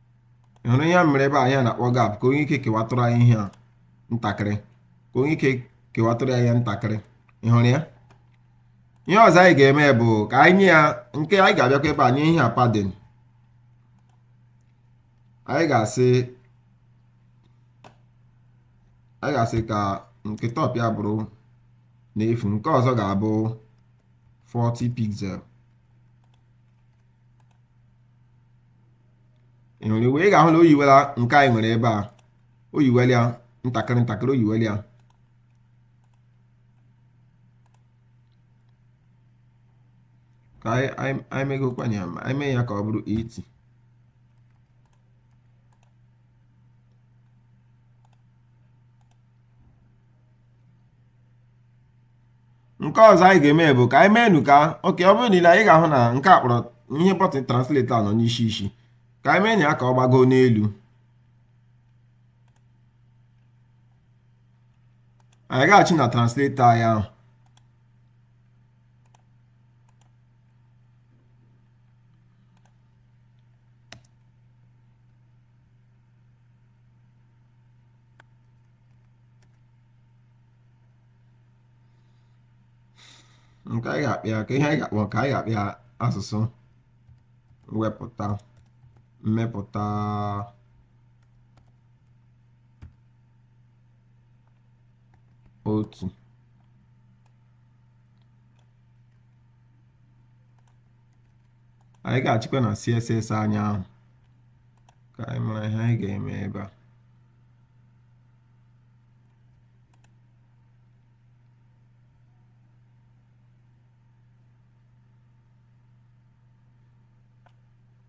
hụrụ ihe a mere ebe a ihe a na-akpọ gap ka o nwee ike kewatụrụ anyị ihe a ntakịrị ka o nwee ike kewatụrụ ya ntakịrị ị hụrụ ya ihe ọzọ anyị ga-eme bụ ka anyị nye ya nke anyị ga-abịakwa ebe a nye ihe a padding anyị ga-asị anyị ga-asị ka nke top ya bụrụ n'efu nke ọzọ ga-abụ 40 pixel ị hụrụ iwe ị ga-ahụ na o yiwela nke anyị nwere ebe a o yiwela ya ntakịrị ntakịrị o yiwela ya ka anyị anyị anyị megokwanye ya ma anyị mee ya ka ọ bụrụ 80 nke ọzọ anyị ga-eme bụ ka anyị meenụ ka okay ọ bụrụ niile anyị ga-ahụ na nke a kpọrọ ihe button translate a nọ n'isi isi ka anyị mee ya ka ọ gbago n'elu anyị gaghachi na translate anyị ahụ nke anyị ga-akpọ ya ka ihe anyị ga-akpọ ka anyị ga-akpọ ya asụsụ mwepụta mmepụta otu anyị gaghachikwa na css anyị ahụ ka anyị mara ihe anyị ga-eme ebe a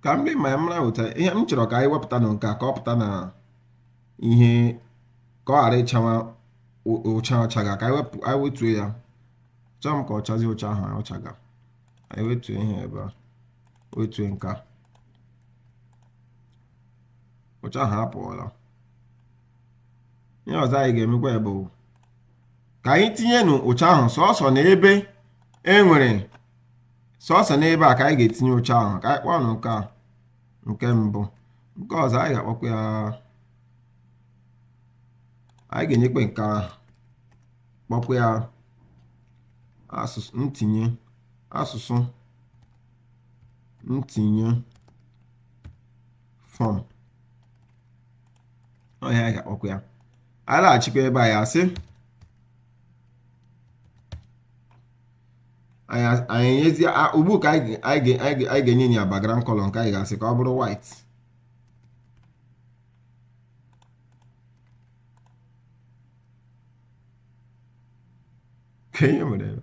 ka m dị ma m ga-ahụta ihe m chọrọ ka anyị wepụta na nke a ka ọ pụta na ihe ka ọ ghara ịchawa ụcha ọ chaga ka anyị wetuo ya achọọ m ka ọ chazie ụcha ahụ ọ chaga anyị wetuo ihe ebe a wetuo nke a ụcha ahụ apụọla ihe ọzọ anyị ga-emekwa bụ ka anyị tinyenụ ụcha ahụ sọsọ na ebe e nwere sọsọ n'ebe a ka anyị ga-etinye ụcha ahụ ka anyị kpọọ nke a nke mbụ nke ọzọ anyị ga-akpọkwa ya anyị ga-enyekwa nke ahụ kpọkwa ya asụsụ ntinye asụsụ ntinye form ọ ihe anyị ga-akpọkwa ya anyị laghachikwa ebe a anyị asị anyị nyezi ugbu ka anyị ga-enye ya background color nke anyị ga-asị ka ọ bụrụ white ka ihe mere ebe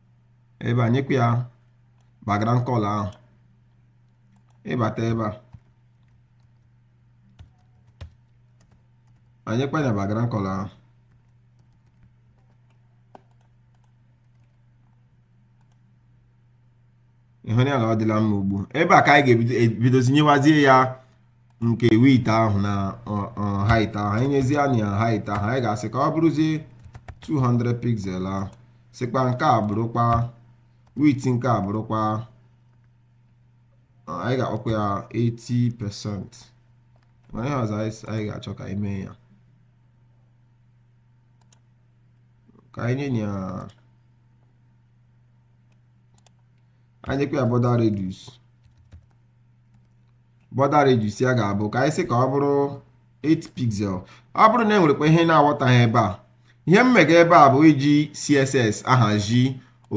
ebe a nyekwa ya background color ahụ ị bata ebe a anyị nyekwa ya background color ahụ ị hụ ya na ọ dịla mma ugbu ebe a ka anyị ga-ebidozi nyewazie ya nke width ahụ na height ahụ anyị nyezienụ ya height ahụ anyị ga-asị ka ọ bụrụzie 200 pixel ahụ sịkwa nke a bụrụkwa width nke a bụrụkwa anyị ga-akpọkwa ya 80 percent mana ihe ọzọ anyị ga-achọ ka anyị mee ya ka anyị nye ya anyị nyekwa ya border radius border radius ya ga-abụ ka anyị sị ka ọ bụrụ 8 pixel ọ bụrụ na e nwerekwa ihe ị na-aghọtaghị ebe a ihe m mega ebe a bụ iji css ahazi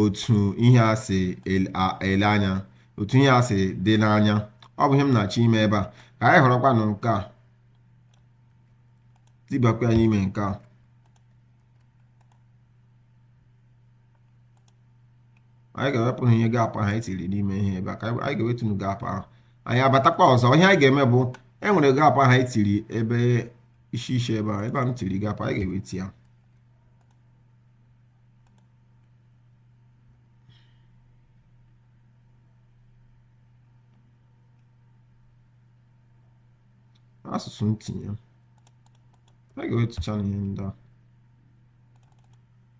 otu ihe a si ele anya otu ihe a si dị n'anya ọ bụ ihe m na-achọ ime ebe a ka anyị họrọkwanụ nke a tibakwa ya n'ime nke a anyị ga-ewepụnụ ihe gap ahụ anyị tiri n'ime ihe ebe a ka anyị ga-ewetunu gap ahụ anyị abatakwa ọzọ ihe anyị ga-eme bụ e nwere gap ahụ anyị tiri ebe isi isi ebe a ebe a m tiri gap anyị ga-ewetu ya asụsụ ntinye a ga-ewetuchanụ ihe ndị a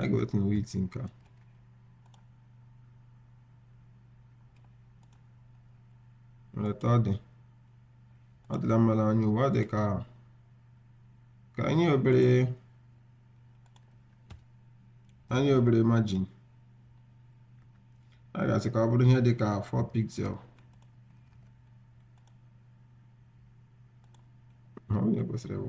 A ga-ewetunu width nke a. Lee etu ọ dị. Ọ dịla mma n'anya ugbu a ọ dị ka ka anyị nye obere anyị nye obere margin. A ga-asị ka ọ bụrụ ihe dị ka 4 pixel. Ọ bụ ihe kwesịrị ịbụ.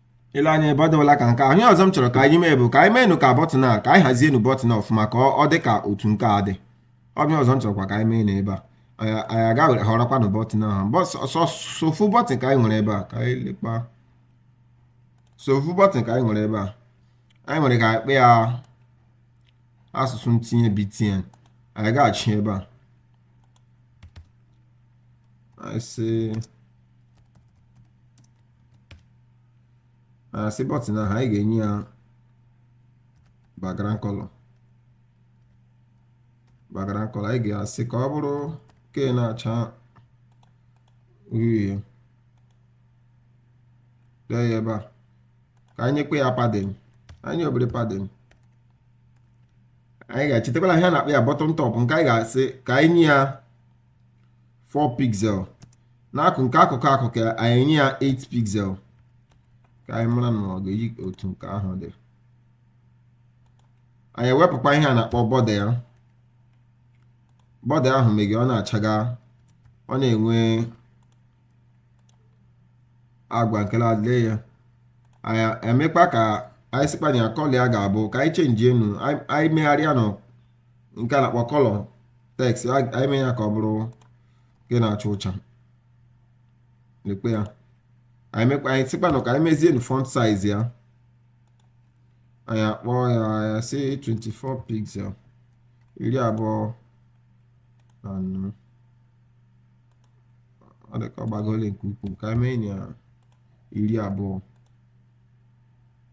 ile anya ebe ọ dịwala ka nke ahụ ihe ọzọ m chọrọ ka anyị mee bụ ka anyị meenụ ka bọtịn a ka anyị hazienụ bọtịn ọfụma ka ọ- ọ dị ka otu nke a dị ọ bụ ihe ọzọ m chọrọkwa ka anyị mee na ebe a anyị anyị aga họrọkwanụ bọtịn ahụ Bọ- sọ- sọ- sọ ofu bọtịn ka anyị nwere ebe a ka anyị lekpa sọ ofu bọtịn ka anyị nwere ebe a anyị nwere ike akpọ ya asụsụ ntinye btn anyị ga-achị ebe a anyị sị asị bọtịn ahụ anyị ga-enye ya background color background color anyị ga-asị ka ọ bụrụ nke na-acha uhie dee ya ebe a ka anyị nyekwa ya padding anyị obere padding anyị ga-echetakwala ihe a na-akpọ ya bottom top nke anyị ga-asị ka anyị nye ya 4 pixel nke akụkụ akụkụ ya anyị enye ya 8 pixel ka anyị mara na ọ ga-eyi otu nke ahụ dị anyị ewepụkwa ihe a na-akpọ border ya border ahụ meghe ọ na-achaga ọ na-enwe agwa nke na-adịle ya anyị emekwa ka anyị sịkwa na color ya ga-abụ ka anyị chenjienụ anyị megharịanụ nke a na-akpọ color text anyị mee ya ka ọ bụrụ nke na-acha ọcha lekpa ya anyị sịkwanụ ka anyị mezienụ font size ya anyị akpọ ya sị 24 pixel iri abụọ na anọ ọ dị ka ọ gbagole nke ukwuu ka anyị mee ya iri abụọ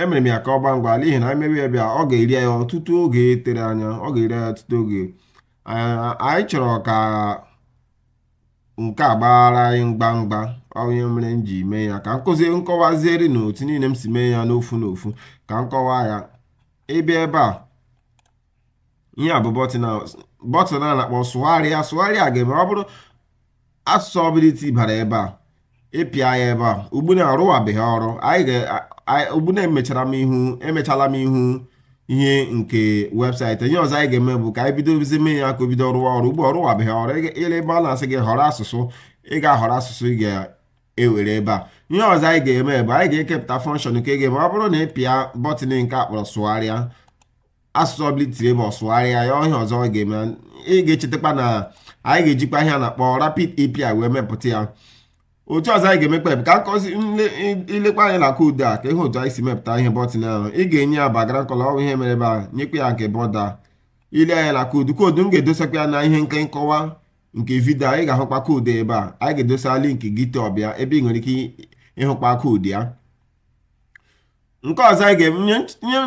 emere m ya ka ọ gbaa ngwa n'ihi na anyị mewe ya ebe a ọ ga-eri anyị ọtụtụ oge tere anya ọ ga-eri anyị ọtụtụ oge anyị chọrọ ka nke a gbaara anyị ngwa ngwa ọ bụ ya mere m ji mee ya ka m kọwaziere unu otu niile m si mee ya n'ofu n'ofu ka m kọwaa ya ị bịa ebe a ihe a bụ bọtịn a bọtịn a na-akpọ sụgharịa sụgharịa ga-eme ọ bụrụ asụsụ ọbụla i tibara ebe a ị pịa ya ebe a ugbuna ọ rụwabeghị ọrụ ugbuna emechala m ihu ihe nke website ihe ọzọ anyị ga-eme bụ ka anyị bido bidozie mee ya ka o bido rụwa ọrụ ugbu a ọ rụwabeghị ọrụ i lee ebe a na-asị gị họrọ asụsụ ị ga-ahọrọ asụsụ ị ga-ewere ebe a ihe ọzọ anyị ga-eme bụ anyị ga-ekepụta function nke ga-eme ọ bụrụ na ị pịa bọtịn nke a kpọrọ sụgharịa asụsụ ọbụla itiri ebe ọ sụgharịa ya ihe ọzọ ọ ga-eme ị ga-echetakwa na anyị ga-ejikwa ihe a na-akpọ rapid API wee mepụta ya otu ọzọ anyị ga-emekpa bụ ka m kuzie ilekwa anya na koodu a ka ihe otu anyị si mepụta ihe bọtịn ahụ ị ga-enye ya background color ọ wụ ihe mere ebe a nyekwa ya nke border ile anya na koodu koodu m ga-edosakwa ya na ihe nke nkọwa nke vidio ị ga-ahụkwa koodu ebe a anyị ga-edosa link GitHub ya ebe ị nwere ike ịhụkwa koodu ya nke ọzọ anyị ga-enye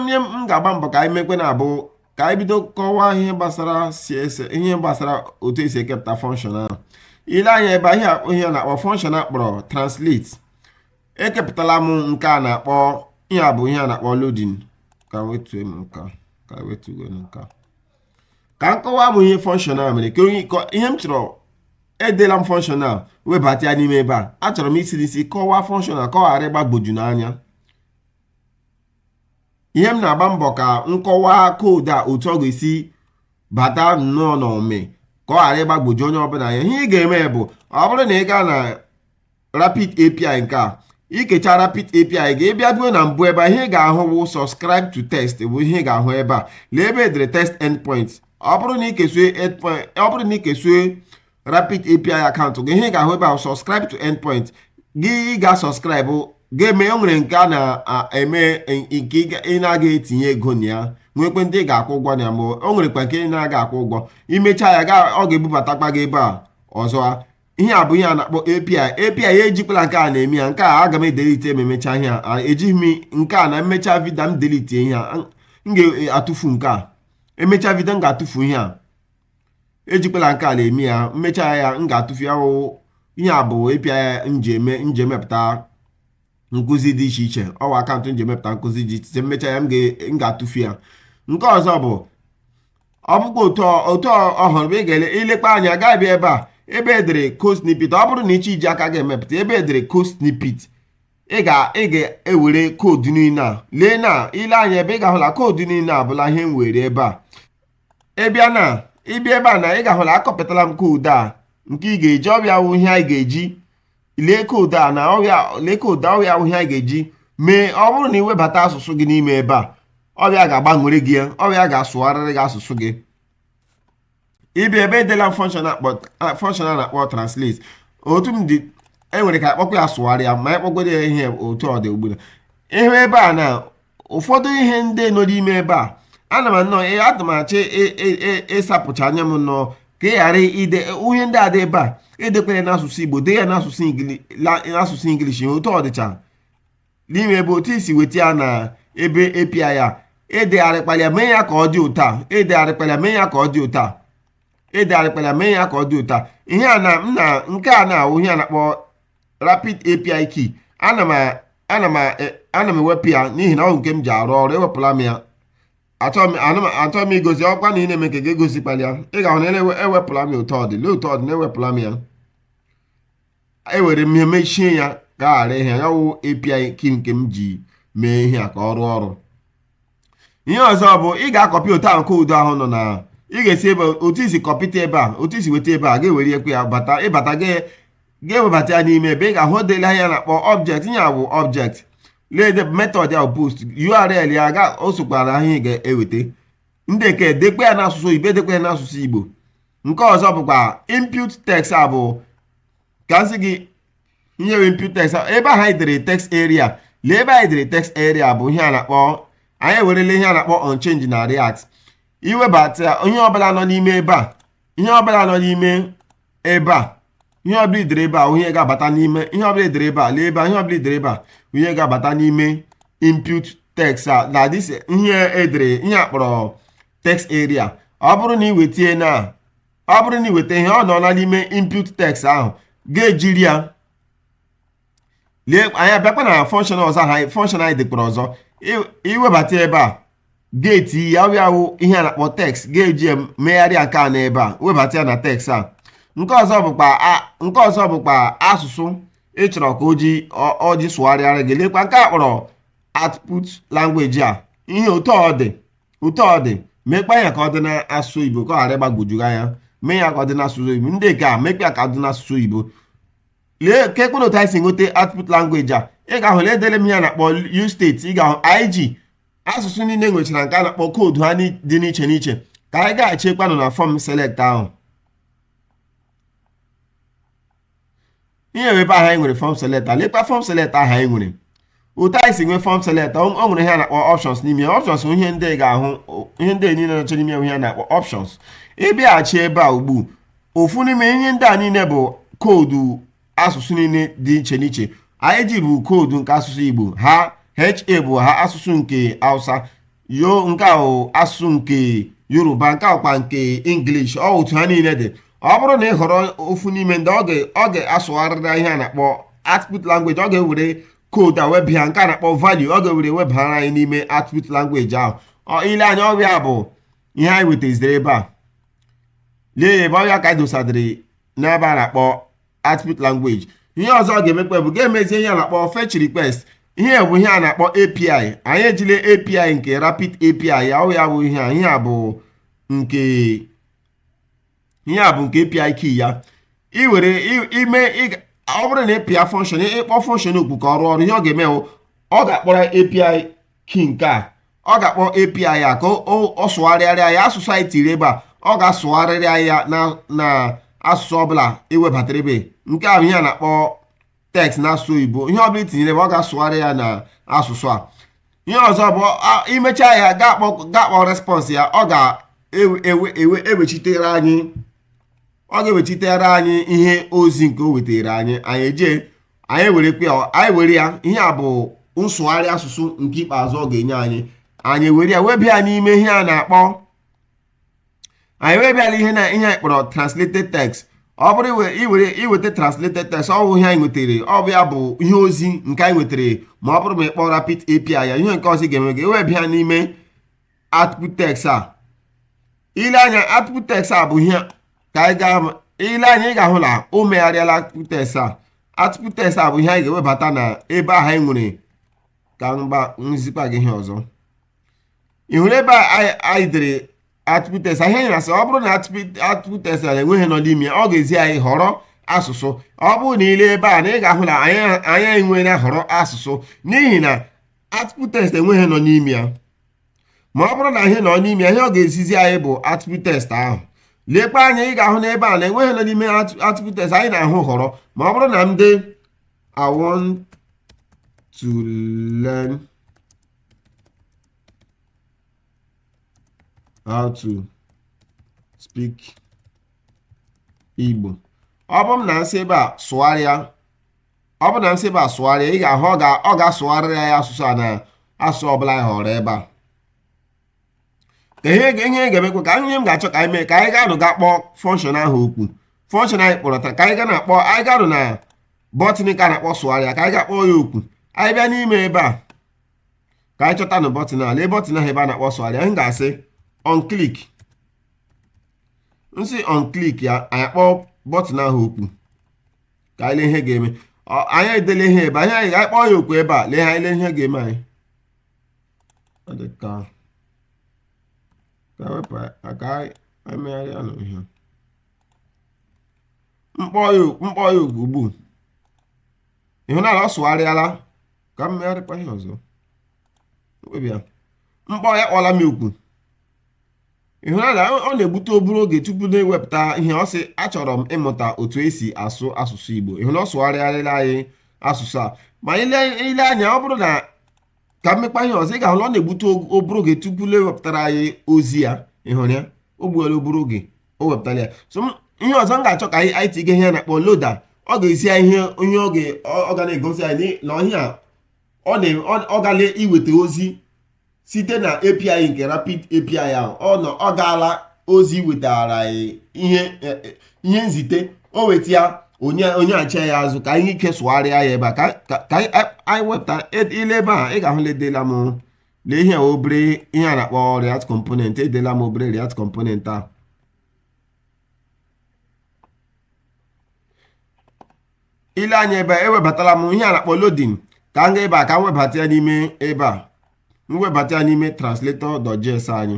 nye m ga-agba mbọ ka anyị mekwe na-abụ ka anyị bido kọwaa ihe gbasara CSS ihe gbasara otu esi ekepụta fọnshọn ahụ ile anya ebe a ihe ihe a na-akpọ fọnshọn akpọrọ translate ekepụtala m nke a na-akpọ ihe a bụ ihe a na-akpọ loading ka wetuo m nke a ka wetuo nke a ka m kọwaa m ihe fọnshọn a mere ka ihe m chọrọ edela m function a webata ya n'ime ebe a achọrọ m isi n'isi kọwaa function a ka ọ ghara ịgbagboju unu anya ihe m na-agba mbọ ka m kọwaa koodu a otu ọ ga-esi bata nnọọ n'ime ka ọ ghara ịgbagboju onye ọbụla anya ihe ị ga-eme bụ ọ bụrụ na ị gaa na rapid API nke a ikecha rapid API gị ịbịa bịa na mbụ ebe a ihe ị ga-ahụ bụ subscribe to test bụ ihe ị ga-ahụ ebe a lee ebe edere test endpoint ọ bụrụ na ikesue ọ bụrụ na ikesue rapid API akaụntụ gị ihe ị ga-ahụ ebe a subscribe to endpoint gị ị ga subscribe ga-eme o nwere nke a na-eme nke ị na-aga etinye ego na ya nwekwe ndị ị ga-akwụ ụgwọ na ya ma o nwerekwa nke ị na-aga akwụ ụgwọ imecha ya ọ ga-ebubatakwa gị ebe a ọzọ ihe a bụ ihe a na-akpọ API API ya ejikwala nke a na-eme ya nke a aga m edelite ma emecha ihe a ejighị m nke a na m mecha vidio m delite ihe a m ga-atụfu nke a emecha vidio m ga-atụfu ihe a ejikwala nke a na-eme ya m mecha ya m ga-atụfu ya wụ ihe a bụ API m ji eme m ji emepụta nkụzi dị iche iche ọ wụ akaụntụ m ji emepụta nkụzi dị iche iche m mecha ya m ga-atụfu ya nke ọzọ bụ ọ bụkwa otu ọ- otu ọ- ọhụrụ bụ ị ga-ele ilekpa anya gaa bịa ebe a ebe edere code snippet ọ bụrụ na ịchọ iji aka gị emepụta ebe edere code snippet ị ga ị ga-ewere koodu niile a lee na ile anya ebe ị ga-ahụla koodu niile a bụla ihe m were ebe a ị bịa na ịbịa ebe a na ị ga-ahụla akọpụtala m koodu a nke ị ga-eji ọ bụ ya wụ ihe anyị ga-eji lee koodu a na ọ wụ ya lee koodu a ọ wụ ya wụ ihe anyị ga-eji mee ọ bụrụ na ị webata asụsụ gị n'ime ebe a ọ wụ ya ga-agbanwere gị ya ọ wụ ya ga-asụgharịrị gị asụsụ gị ịbịa ebe edela fọnshọn a na-akpọ translate otu ọ dị enwere ike akpọkwa ya sụgharịa ma anyị kpọgoro ya ihe otu ọ dị ugbua ịhụ ebe a na ụfọdụ ihe ndị nọ n'ime ebe a ana m anọ adị m achọ ịsapụcha anya m nọ ka ị ghara ide ihe ndị a dị ebe a edekwere n'asụsụ igbo dee ya n'asụsụ ingilishi otu ọ dịcha n'ime ebe otu i si weta ya na ebe API ya edegharịkpara ya mee ya ka ọ dị ụta edegharịkpara mee ya ka ọ dị ụta edegharịkpara mee ya ka ọ dị ụta ihe a na m na nke a na-awụ ihe a na-akpọ rapid API key ana m ana m e, ana m ewepụ ya n'ihi na ọ wụ nke m ji arụ ọrụ ewepụla m ya achọghị m igosi ọkwa na ị na-eme nke gị egosikwala ya ị ga-ahụ na ewepụla m ya otu ọ dị lee otu ọ dị na ewepụla m ya ewere m ihe mechie ya ka ghara ịhụ ihe wụ API key nke m ji mee ihe a ka ọ rụọ ọrụ ihe ọzọ bụ ị ga-akọpị otu ahụ koodu ahụ nọ na ị ga-esi ebe otu i si kọpịta ebe a otu i si weta ebe a ga-ewerekwe ya bata ịbata ga-ewebata ya n'ime ebe ị ga-ahụ dele ihe a na-akpọ object ihe a bụ object lee method ya post url ya ga o sokwara ahụ ị ga-eweta ndị nke dekwe ya n'asụsụ igbo edekwe ya n'asụsụ igbo nke ọzọ bụkwa input text a bụ ka m sị gị ihe bụ input text ebe ahụ anyị dere text area lee ebe anyị dere text area bụ ihe a na-akpọ anyị ewerele ihe a na-akpọ onchange na react iwebata ihe ọbụla nọ n'ime ebe a ihe ọbụla nọ n'ime ebe a ihe ọbụla i dere ebe a ihe ga-abata n'ime ihe ọbụla i dere ebe a lee ebe a ihe ọbụla i dere ebe a ihe ga-abata n'ime input text a na this ihe edere ihe a kpọrọ text area ọ bụrụ na ị weta ihe na ọ bụrụ na ị weta ihe ahụ nọ n'ime input text ahụ ga-ejiri ya lee anyị abịakwa na function ọzọ ahụ function anyị dekpara ọzọ i webata ebe a geeti ya ọ bịa wụ ihe a na-akpọ text ga-eji ya megharịa nke a n'ebe a webata ya na text a nke ọzọ bụkwa nke ọzọ bụkwa asụsụ ị chọrọ ka o ji o ji sụgharịara gị lekwa nke a kpọrọ output language a ihe otu ọ dị otu ọ dị mekpa ya ka ọ dị n'asụsụ oyibo ka ọ ghara ịgbagwoju gị anya mee ya ka ọ dị n'asụsụ oyibo ndị nke a mekpa ya ka ọ dị n'asụsụ oyibo lee ka ekpere otu anyị si nweta output language a ị ga-ahụ na edere m ihe a na-akpọ use state ị ga-ahụ ig asụsụ niile nwechara nke a na-akpọ koodu ha dị n'iche n'iche ka anyị gaghachikpanụ na form select ahụ ihe ebe ahụ anyị nwere form select lekwa form select ahụ anyị nwere otu anyị si nwee form select o nwere ihe a na-akpọ options n'ime ya options ihe ndị ga-ahụ ihe ndị niile nọcha n'ime ihe a na-akpọ options ị bịaghachi ebe a ugbu ofu n'ime ihe ndị a niile bụ koodu asụsụ niile dị iche n'iche ig bụ koodu nke asụsụ Igbo ha ha bụ ha asụsụ nke Hausa yo nke a wụ asụsụ nke Yoruba nke a kwa nke English ọ otu ha niile dị ọ bụrụ na ị họrọ ofu n'ime ndị ọ ga-asụgharịra ihe a na-akpọ output language ọ ga-ewere koodu a webịa nke a na-akpọ value ọ ga-ewere webara anyị n'ime output language ahụ ile anya ọ bụ ya bụ ihe anyị wetaziri ebe a lee ya ebe ọ bụ ya ka anyị dosadịrị n'ebe a na-akpọ output language ihe ọzọ ọ ga-emekwa bụ ga-emezie ihe a na-akpọ fetch request ihe bụ ihe a na-akpọ API anyị ejile API nke Rapid API ya ọ ya bụ ihe a ihe a bụ nke ihe a bụ nke API key ya ị were ime ọ bụrụ na ị pịa function ịkpọ function oku ka ọ rụọ ọrụ ihe ọ ga-eme ọ ga-akpọrọ API key nke a ọ ga-akpọ API ya ka ọ sụgharịara ya asụsụ anyị tiri ebe a ọ ga-asụgharịrị ya na asụsụ ọbụla iwebatara ebe nke a bụ ihe a na-akpọ text n'asụsụ oyibo ihe ọbụla itinyere ebe ọ ga-asụgharị ya na asụsụ a ihe ọzọ bụ imecha ya ga-akpọ response ya ọ ga-ewechitere anyị ihe ozi nke o wetara anyị anyị eje anyị were anyị were ya ihe a bụ nsụgharị asụsụ nke ikpeazụ ọ ga-enye anyị anyị were ya webịa n'ime ihe a na-akpọ anyị webịala ihe na ihe anyị kpọrọ translated text ọ bụrụ iwere iweta translated text ọ bụ ihe anyị nwetara ọ bụ ya bụ ihe ozi nke anyị nwetara ma ọ bụrụ ma ị kpọọ rapid API ya ihe nke ọzọ ga-eme ga-ewebịa n'ime output text a ile anya output text a bụ ihe ka anyị gaa ile anya ị ga-ahụ na o megharịala output text a output text a bụ ihe anyị ga-ewebata na ebe ahụ anyị nwere ka mgba nzikwa gị ihe ọzọ ị hụrụ ebe anyị dere output text ihe anyị na-asị ọ bụrụ na output text a enweghị ihe nọ n'ime ọ ga-ezi anyị họrọ asụsụ ọ bụrụ na ile ebe a na ị ga-ahụ na anyị enweghị na họrọ asụsụ n'ihi na output text enweghị ihe nọ n'ime ya ma ọ bụrụ na ihe nọ n'ime ya ihe ọ ga-ezizi anyị bụ output text ahụ lekwa anya ị ga-ahụ n'ebe a na enweghị ihe nọ n'ime output text anyị na-ahụ họrọ ma ọ bụrụ na m dee I want to learn how to speak Igbo ọ bụ na nsị ebe a sụgharịa ọ bụ na nsị ebe a sụgharịa ị ga-ahụ ọ ga-asụgharịrị ya asụsụ a na asụsụ ọbụla anyị họrọ ebe a ka ihe ihe ga-emekwa ka ihe m ga-achọ ka anyị mee ka anyị gaanụ ga kpọọ function ahụ oku function anyị kpọrọ taa ka anyị ga na-akpọ anyị gaanụ na bọtịn ka na-akpọ sụgharịa ka anyị ga-akpọ ya okwu anyị bịa n'ime ebe a ka anyị chọta na bọtịn a lee bọtịn ahụ ebe a na-akpọ sụgharịa m ga-asị on click m sị on click ya anyị akpọọ bọtịn ahụ okwu ka anyị lee ihe ga-eme anyị edele ihe ebe a anyị kpọọ ya okwu ebe a lee anyị lee ihe ga-eme anyị ka wepụ aka anyị megharịa nụ ihe m kpọọ ya m kpọọ ya okwu ugbu a ị hụla na ọ sụgharịala ka m megharịkwa ihe ọzọ mkpebi ya m kpọọ ya akpọọla m okwu ị hụla na ọ na-egbute obere oge tupu na-ewepụta ihe ọ sị achọrọ m ịmụta otu esi asụ asụsụ Igbo ị hụrụ na ọ sụgharịarala anyị asụsụ a ma i lee i lee anya ọ bụrụ na ka m mekwaa ihe ọzọ ị ga-ahụ na ọ na-egbute obere oge tupu na-ewepụtara anyị ozi ya ị hụrụ ya o gbuola obere oge o wepụtara ya so m- ihe ọzọ m ga-achọ ka anyị anyị tinye ihe a na-akpọ loader ọ ga-ezi anyị ihe onye ọ ga- ọ- ọ ga na-egosi anyị na ihe a ọ na- ọ- ọ gala iweta ozi site na API nke rapid API ahụ ọ nọ ọ gaala ozi iwetara anyị ihe eh, eh, ihe nzite o weta ya o nye o nyeghachi ya azụ ka anyị ike sụgharịa ya ebe a ka ka- ka anyị anyị wepụta ed- i lee ebe a ị ga-ahụ na edela m lee ihe obere ihe a na-akpọ react component edela m obere react component ahụ i lee anya ebe a ewebatala m ihe a na-akpọ loading ka m gaa ebe a ka m webata ya n'ime ebe a m webata ya n'ime translator.js anyị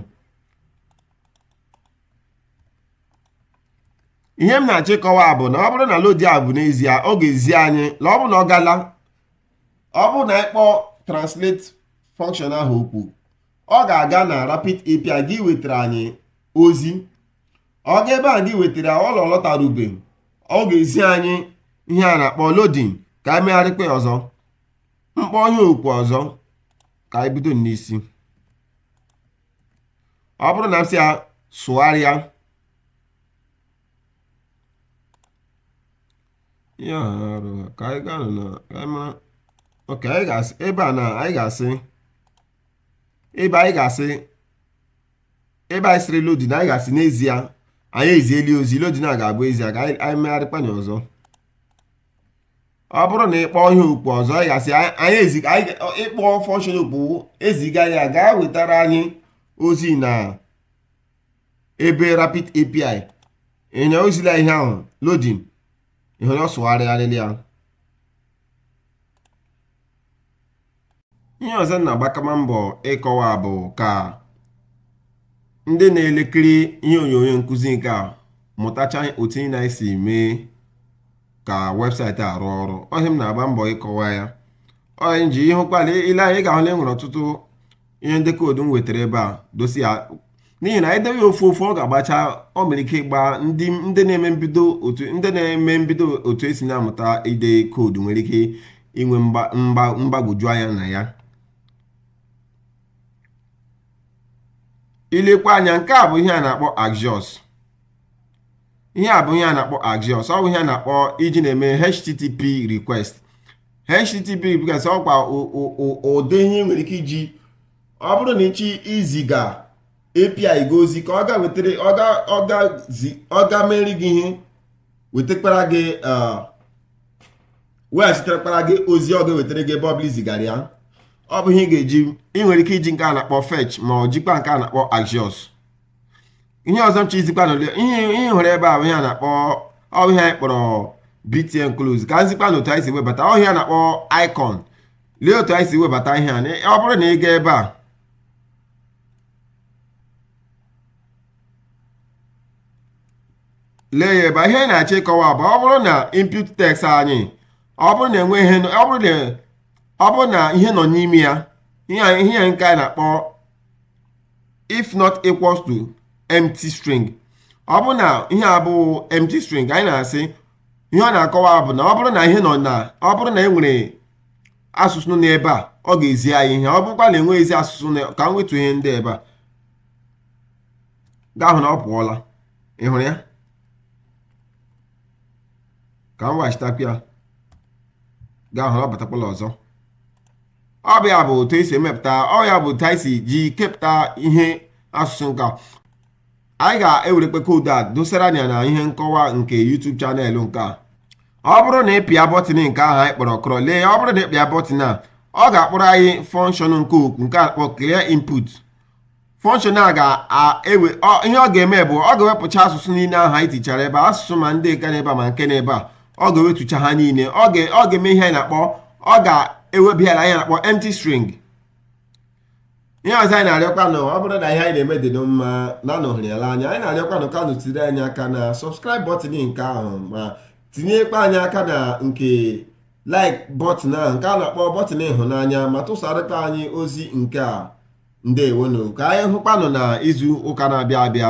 ihe m na-achọ ịkọwa bụ na ọ bụrụ na loading a bụ n'ezie ọ ga-ezi anyị na ọ bụrụ na ọ gala ọ bụrụ na ị kpọọ translate function ahụ okwu ọ ga-aga na rapid API a gaa iwetara anyị ozi ọ gaa ebe a gaa iwetara ọ lọ- ọ lọtarubeghị ọ ga-ezi anyị ihe a na-akpọ loading ka anyị megharịkwa ọzọ m kpọọ ihe okwu ọzọ ka anyị bido n'isi ọ bụrụ na m sị ya sụgharịa ihe a arụ ha ka anyị gaa na ka anyị mara okay anyị ga-asị ebe a na anyị ga-asị ebe anyị ga-asị ebe anyị sịrị loading a anyị ga-asị n'ezie anyị eziela ozi loading a ga-abụ ezie ka anyị megharịkwa ya ọzọ ọ bụrụ na ị kpọọ ihe okwu ọzọ anyị ga-asị anyị eziga ị kpọọ function okwu eziga ya gaa wetara anyị ozi na ebe rapid api i lee anya ozila ihe ahụ loading ihe onye ọ sụgharịgharịla ya ihe ọzọ m na-agbakwa mbọ ịkọwa bụ ka ndị na-elekiri ihe onyonyo nkụzi nke a mụtacha otu ị na-esi eme ka website arụ ọrụ ọ ihe m na-agba mbọ ịkọwa ya ọ ihe m ji ị hụkwala i lee anya ị ga-ahụ na e nwere ọtụtụ ihe ndị koodu m wetara ebe a dosi ya n'ihi na e dee ya ofu ofu ọ ga-agbacha o nwere ike ịgba ndị ndị na-eme mbido otu esi na-amụta ide koodu nwere ike inwe mgbagwoju anya na ya ilekwa anya nke a bụ ihe a na-akpọ axios ihe a bụ ihe a na-akpọ axios ọ bụ ihe a na-akpọ e ji na-eme http request http request ọkwa ụdị ihe i nwere ike iji ọ bụrụ na ị chọ iziga API gị ozi ka ọ gaa wetara ọ gaa mere gị ihe wetakwara gị weghachitekwara gị ozi ọ ga-ewetara gị ebe ọ bụla i zigara ya ọ bụ ihe ị ga-eji ị nwere ike iji nke a na-akpọ fetch ma ọ jikwa nke a na-akpọ axios ihe ọzọ m chọ izikwanụ ihe ị hụrụ ebe a bụ ihe a na-akpọ ọ bụ ihe anyị kpọrọ BTN close ka m zikwanụ otu anyị si webata ọ ihe a na-akpọ icon lee otu anyị si webata ihe a na- ọ bụrụ na ị gaa ebe a lee ya ebe a. ihe anyị na-achọ ịkọwa bụ ọ bụrụ na input text anyị ọ bụrụ na enwe ihe ọ bụrụ na ọ bụrụ na ihe nọ n'ime ya ihe a- ihe a nke anyị na-akpọ if not equals to empty string ọ bụrụ na ihe abụghị empty string anyị na-asị ihe ọ na-akọwa bụ na ọ bụrụ na ihe nọ na ọ bụrụ na e nwere asụsụ nọ n'ebe a ọ ga-ezi anyị ihe ọ bụrụkwa na enweghịzi asụsụ nọ ka m wetu ihe ndị ebe a ị ga-ahụ na ọ pụọla ị hụrụ ya ka m weghachitakwa ya ị ga-ahụ na ọ batakwala ọzọ ọ bụ ya bụ otu esi emepụta ọ ya bụ otu anyị si ji kepụta ihe asụsụ nke a anyị ga-ewerekwa koodu a dosara nụ na ihe nkọwa nke YouTube channel nke a ọ bụrụ na ị pịa bọtịn nke ahụ anyị kpọrọ kọrọ lee ọ bụrụ na ị pịa bọtịn a ọ ga-akpọrọ anyị function nke okwu nke a kpọ clear input function a ga-ewe ihe ọ ga-eme bụ ọ ga-ewepụcha asụsụ niile ahụ anyị tichara ebe asụsụ ma ndị nke n'ebe a ma nke n'ebe a ọ ga-ewetucha ha niile ọ ga-eme ihe anyị na-akpọ ọ ga-ewebe ya na anyị na-akpọ empty string ihe ọzọ anyị na-arịọkwanụ ọ bụrụ na ihe anyị na-eme dị nụ mma na nụ hụrụ ya n'anya anyị na-arịọkwanụ ka nụ tiri anyị aka na subscribe button nke ahụ ma tinyekwa anyị aka na nke like button ahụ nke a na-akpọ button ịhụnanya ma tụsarịta anyị ozi nke a ndewonu ka anyị hụkwanụ na izu ụka na-abịa abịa